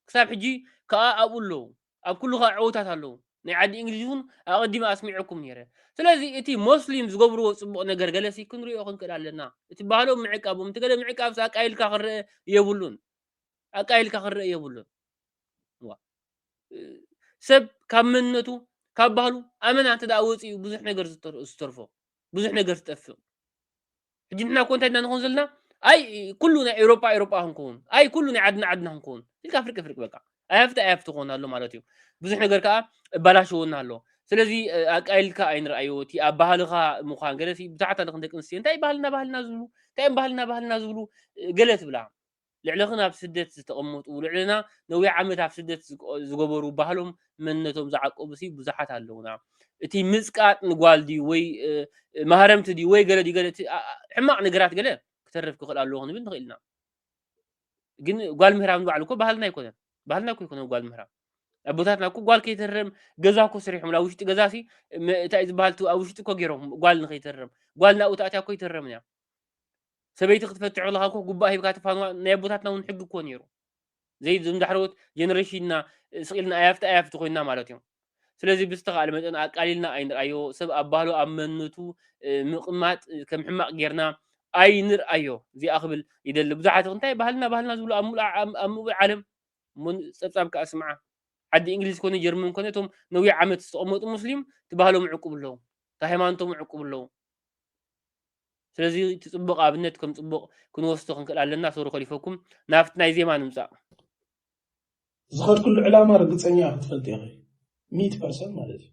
ክሳብ ሕጂ ከዓ ኣብኡ ኣለዉ ኣብ ኩሉ ከዓ ዕውታት ኣለዉ ናይ ዓዲ እንግሊዝ እውን ኣቐዲመ ኣስሚዐኩም ነይረ ስለዚ እቲ ሞስሊም ዝገብርዎ ፅቡቕ ነገር ገለሲ ክንሪኦ ክንክእል ኣለና እቲ ባህሎም ምዕቃቦም እቲ ገለ ምዕቃብስ ኣቃይልካ ክንርአ የብሉን ኣቃይልካ ክንርአ የብሉን ዋ፣ እ፣ ሰብ ካብ መንነቱ ካብ ባህሉ ኣመና እንተ ደኣ ወፂኡ ብዙሕ ነገር ዝተር- ዝተርፎ ብዙሕ ነገር ትጠፍእ ሕጂ ንሕና እኮ እንታይ ንኾን ዘለና ኣይ ኩሉ ናይ ኤውሮጳ ኤውሮጳ ክንከውን ኣይ ኩሉ ናይ ዓድና ዓድና ክንከውን ኢልካ ፍርቂ ፍርቂ በቃ ኣይሃፍቲ ኣይሃፍቲ ክኾን ኣሎ ማለት እዩ ብዙሕ ነገር ከዓ እባላሸወና ኣሎ ስለዚ ኣቃይልካ ኣይንርኣዮ እቲ ኣብ ባህልኻ ምዃን ገለ ብዛዕታ ደቂ ኣንስትዮ እንታይ ባህልና ባህልና ዝብሉ እንታይ እዮም ባህልና ባህልና ዝብሉ ገለ ትብላ ልዕለኽን ኣብ ስደት ዝተቐመጡ ልዕለና ነዊሕ ዓመት ኣብ ስደት ዝገበሩ ባህሎም መንነቶም ዝዓቀቡሲ ብዙሓት ኣለዉና እቲ ምጽቃጥ ንጓል ድዩ ወይ ማህረምቲ ድዩ ወይ ገለ ድዩ ገለ እቲ ሕማቕ ነገራት ገለ ክተርፍ ክኽእል ኣለዎ ክንብል ንኽእል ኢና ግን ጓል ምህራም ንባዕሉ እኮ ባህልና ኣይኮነን ባህልና እኮ ይኮነ ጓል ምህራም ኣቦታትና እኮ ጓል ከይተርም ገዛ እኮ ስሪሖም ኣብ ውሽጢ ገዛ ሲ እንታይ ዝበሃል ኣብ ውሽጢ እኮ ገይሮም ጓል ንከይተርም ጓል ናብኡ ተኣትያ እኮ ይተረምን እያ ሰበይቲ ክትፈትሕ ከለካ እኮ ጉባእ ሂብካ ተፋንዋ ናይ ኣቦታትና እውን ሕጊ እኮ ነይሩ ዘይ ዞም ዳሕረዎት ጀነሬሽንና ስቂልና ኣያፍቲ ኣያፍቲ ኮይና ማለት እዮም ስለዚ ብዝተኻእለ መጠን ኣቃሊልና ኣይንርኣዮ ሰብ ኣብ ባህሉ ኣብ መንነቱ ምቕማጥ ከም ሕማቕ ጌርና ኣይንርኣዮ እዚኣ ክብል ይደሊ ብዙሓት እንታይ ባህልና ባህልና ዝብሉ ኣብ ሙሉእ ኣብ ሙሉእ ዓለም ጸብጻብ ከዓ ስምዓ ዓዲ እንግሊዝ ኮነ ጀርመን ኮነ እቶም ነዊሕ ዓመት ዝተቐመጡ ሙስሊም እቲ ባህሎም ዕቁብ ኣለዉ እቲ ሃይማኖቶም ዕቁብ ኣለዉ ስለዚ እቲ ጽቡቅ ኣብነት ከም ጽቡቅ ክንወስዶ ክንክእል ኣለና ሶሪ ኮሊፈኩም ናብቲ ናይ ዜማ ንምጻእ። ዝኸድክሉ ዕላማ ርግጸኛ ክትፈልጢ ኢኺ ሚእቲ ፐርሰንት ማለት እዩ።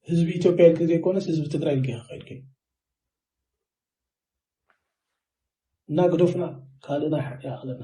ህዝቢ ኢትዮጵያ ኢልኪ ዘይኮነስ ህዝቢ ትግራይ ኢልኪ ኢኺ ከይድኪ እና ግደፉና ካልእና ይኣኽለና።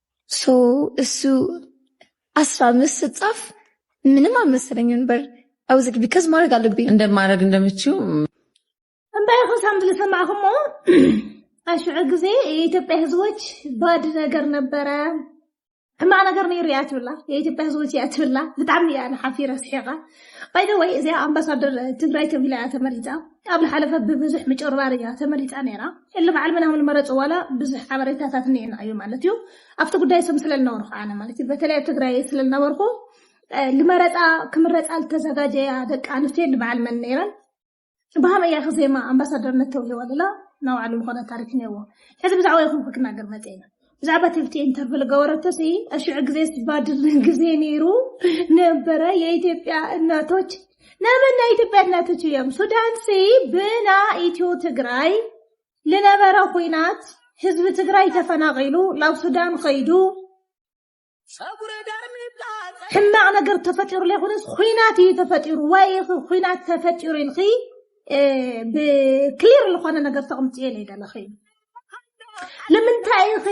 so እሱ ኣስራ ምስ ስጻፍ ምንም ኣልመሰለኝ ነበር ኣውዝ ቢካዝ ማድረግ ኣለብኝ እንደ ማድረግ እንደምችው እንታይ ኹ ሳምት ዝሰማዕኹሞ ኣሽዑ ግዜ የኢትዮጵያ ህዝቦች ባድ ነገር ነበረ ሕማቅ ነገር ነይሩ እያ ትብላ የኢትዮጵያ ህዝቦች እያ ትብላ ብጣዕሚ እያ ንሓፊረ ስሒቃ ባይደ ወይ እዚኣ ኣምባሳደር ትግራይ ተብሂላ እያ ተመሪፃ ኣብ ዝሓለፈ ብብዙሕ ምጭርባር እያ ተመሪፃ ነይራ እሊ በዓል ምናምን መረጽ ዋላ ብዙሕ ሓበሬታታት እኒኤና እዩ ማለት እዩ። ኣብቲ ጉዳይ ስም ስለልነበርኩ ኣነ ማለት እዩ በተለይ ኣብ ትግራይ ስለልነበርኩ ልመረጻ ክምረጻ ልተዘጋጀያ ደቂ ኣንስትዮ ልበዓል መን ነይረን ብሃመ እያ ክዜማ ኣምባሳደርነት ተውሂዋ ልላ ናባዕሉ ዝኾነ ታሪክ እኒኤዎ። ሕዚ ብዛዕባ ይኹንኩ ክናገር መጽ እዩ። ብዛዕባ ትብቲ ኢንተርቪው ልገበረቶ ሲ እሽዑ ግዜ ስባድን ግዜ ነይሩ ነበረ የኢትዮጵያ እናቶች ናበና ኢትዮጵያ እናቶች እዮም ሱዳን ሲ ብና ኢትዮ ትግራይ ልነበረ ኩናት ህዝቢ ትግራይ ተፈናቂሉ ላብ ሱዳን ከይዱ ሕማቕ ነገር ተፈጢሩ ዘይኮነስ ኩናት እዩ ተፈጢሩ ወይ ኩናት ተፈጢሩ ኢልኺ ብክሊር ዝኾነ ነገር ተቕምፅዮ ለይደለኺ ንምንታይ ኢኺ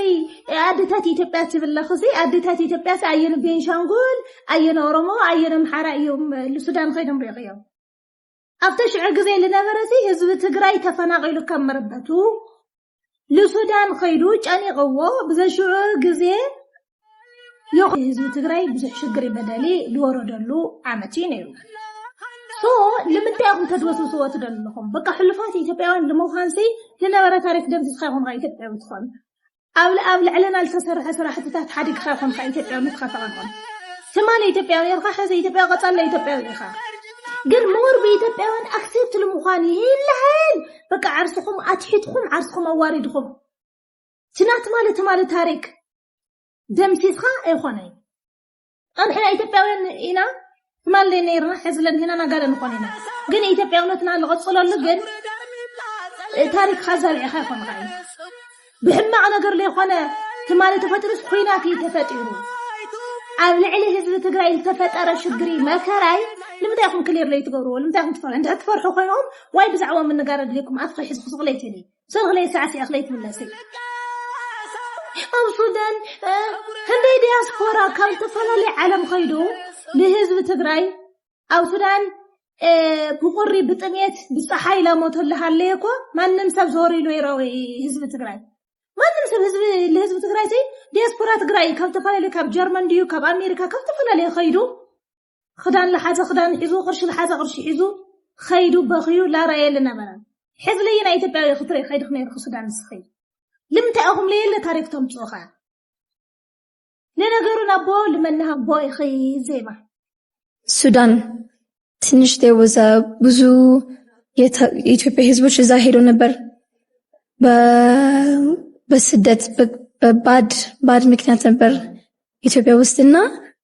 ኣዴታት ኢትዮጵያ ትብለኺ ሲ ኣዴታት ኢትዮጵያ ሲ ኣየነ ቤንሻንጉል ኣየነ ኦሮሞ ኣየነ ኣምሓራ እዮም ልሱዳን ከይዶም ሪኢኽዮም ኣብተ ሽዑ ግዜ ልነበረ ሲ ህዝቢ ትግራይ ተፈናቂሉ ከም መረበቱ ልሱዳን ኸይዱ ጨኒቕዎ ብዘሽዑ ግዜ ዮኽ ህዝቢ ትግራይ ብዙሕ ሽግር በደሊ ልወረደሉ ዓመት እዩ ነይሩ ሶ ልምንታይ ኹም ተድበስብስዎ ትደልኹም በቃ ሕሉፋት ኢትዮጵያውያን ልምዃንሲ ልነበረ ታሪክ ደምሲስካ ይኹም ኢትዮጵያዊ ትኾን ኣብ ኣብ ልዕለና ዝተሰርሐ ስራሕትታት ሓዲግካ ኮንካ ኢትዮጵያውነትካ ተቐንቕን ትማሊ ኢትዮጵያዊ ኔርካ ሕዚ ኢትዮጵያዊ ቀጻላ ኢትዮጵያዊ ኢኻ ግን ሞር ብኢትዮጵያውያን ኣክሴፕት ንምዃን ይልሃል በቃ ዓርስኹም ኣትሒትኩም ዓርስኹም ኣዋሪድኹም ትናት ማለት ማለት ታሪክ ደምሲስካ ኣይኾነይ ኣብ ሕና ኢትዮጵያውያን ኢና ትማሊ ነይርና ሕዚ ለኒህና ናጋለ ንኾን ኢና ግን ኢትዮጵያውነትና ዝቐፅለሉ ግን ታሪክ ካዛብዒኻ ይኾን ኸ ብሕማቕ ነገር ዘይኮነ ትማሊ ተፈጢሩስ ኩናት እዩ ተፈጢሩ ኣብ ልዕሊ ህዝቢ ትግራይ ዝተፈጠረ ሽግሪ መከራይ ንምንታይ ኹም ክሊር ለይትገብርዎ ንምንታይ ኹም ትፈርሑ እንድሕር ትፈርሑ ኮይኖም ዋይ ብዛዕባ ምንጋር ኣድልኩም ኣፍ ከይሕዝኩ ዝቕለይተኒ ሰርክለይ ሳዕሲዐ ክለይትምለሰይ ኣብ ሱዳን ክንደይ ዲያስፖራ ካብ ዝተፈላለየ ዓለም ከይዱ ንህዝቢ ትግራይ ኣብ ሱዳን ብቁሪ ብጥሜት ብፀሓይ ላሞቶ ኣለሃለየ እኮ ማንም ሰብ ዞር ኢሉ ይረዊ ህዝቢ ትግራይ ማንም ሰብ ህዝቢ ንህዝቢ ትግራይ ዘይ ዲያስፖራ ትግራይ ካብ ተፈላለዩ ካብ ጀርመን ድዩ ካብ ኣሜሪካ ካብ ተፈላለየ ከይዱ ክዳን ልሓዘ ክዳን ሒዙ ቅርሺ ልሓዘ ቅርሺ ሒዙ ኸይዱ በኽዩ ላራየ ልነበረን ሕዚ ለየ ናይ ኢትዮጵያዊ ክትርኢ ከይድኽ ነይርኹ ሱዳን ንስኺ ልምንታይ ኣኹም ለየለ ታሪክ ተምፅኡ ኸ ለነገሩ ናቦ ልመናሃቦ ኢኺ ዜማ ሱዳን ትንሽ ወዛ ብዙ የኢትዮጵያ ህዝቦች እዛ ሄዶ ነበር በስደት በባድ ባድ ምክንያት ነበር ኢትዮጵያ ውስጥና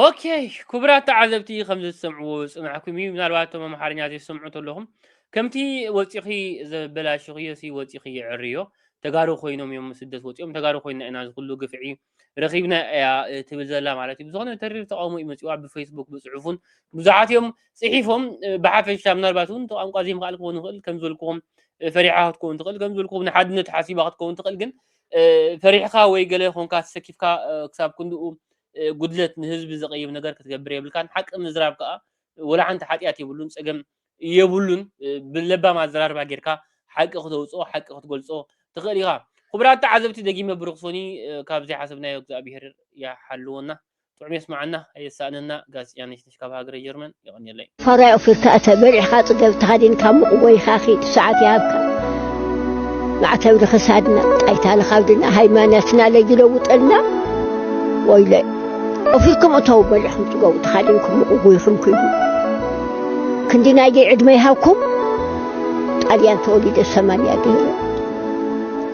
ኦኬ ክቡራት ተዓዘብቲ ከምዚ ዝሰምዕዎ ዝፅናሕኩም እዩ ምናልባት እቶም ኣምሓርኛ ዘይሰምዑ ተለኹም ከምቲ ወፂኺ ዘበላሽኽዮ ሲ ወፂኺ የዕርዮ ተጋሩ ኮይኖም እዮም ስደት ወፂኦም ተጋሩ ኮይና ኢና ዝኩሉ ግፍዒ ረኺብና እያ ትብል ዘላ ማለት እዩ ብዝኾነ ተሪር ተቃውሞ እዩ መፂዋ ብፌስቡክ ብፅሑፉን ብዙሓት እዮም ጽሒፎም ብሓፈሻ ምናልባት እውን ቋንቋ ዘይምኽኣል ክኸውን ይኽእል ከም ዝበልክዎም ፈሪሓ ክትከውን ትኽእል ከም ዝበልክዎም ንሓድነት ሓሲባ ክትከውን ትኽእል ግን ፈሪሕካ ወይ ገለ ኮንካ ተሰኪፍካ ክሳብ ክንድኡ ጉድለት ንህዝቢ ዘቐይም ነገር ክትገብር የብልካን ሓቂ ምዝራብ ከዓ ወላ ሓንቲ ሓጢኣት የብሉን ፀገም የብሉን ብለባም ኣዘራርባ ጌርካ ሓቂ ክተውፅኦ ሓቂ ክትገልፆ ትኽእል ኢኻ ክቡራት ተዓዘብቲ ደጊመ ብሩኽ ሶኒ ካብዚ ሓሰብናዮ እግዚኣብሄር ይሓልወና ጥዑም የስምዓና ኣየሳእነና ጋዜጠኛ ነሽነሽ ካብ ሃገረ ጀርመን የቐንየለይ። ፋራይ ኦፊርካ እተ በሪሕካ ጽገብ ተኸዲንካ ሙቕ ወይኻ ኺድ ሰዓት ይሃብካ ማዕተብ ንኽሳድና ጣይታ ንኻብድና ሃይማኖትና ለይለውጠልና ወይለይ ኦፊርኩም እተው በሪሕኩም ጽገቡ ተኻዲንኩም ሙቕ ጎይኹም ክዱ ክንዲ ናይደይ ዕድመ ይሃብኩም ጣልያን ተወሊደ ሰማንያ ገይረ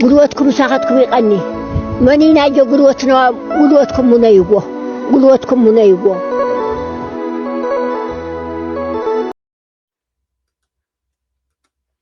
ጉልበትኩም ምሳኻትኩም ይቐኒ መኒናዮ ጉልበትና ጉልበትኩም ሙነይዎ ጉልበትኩም ሙነይዎ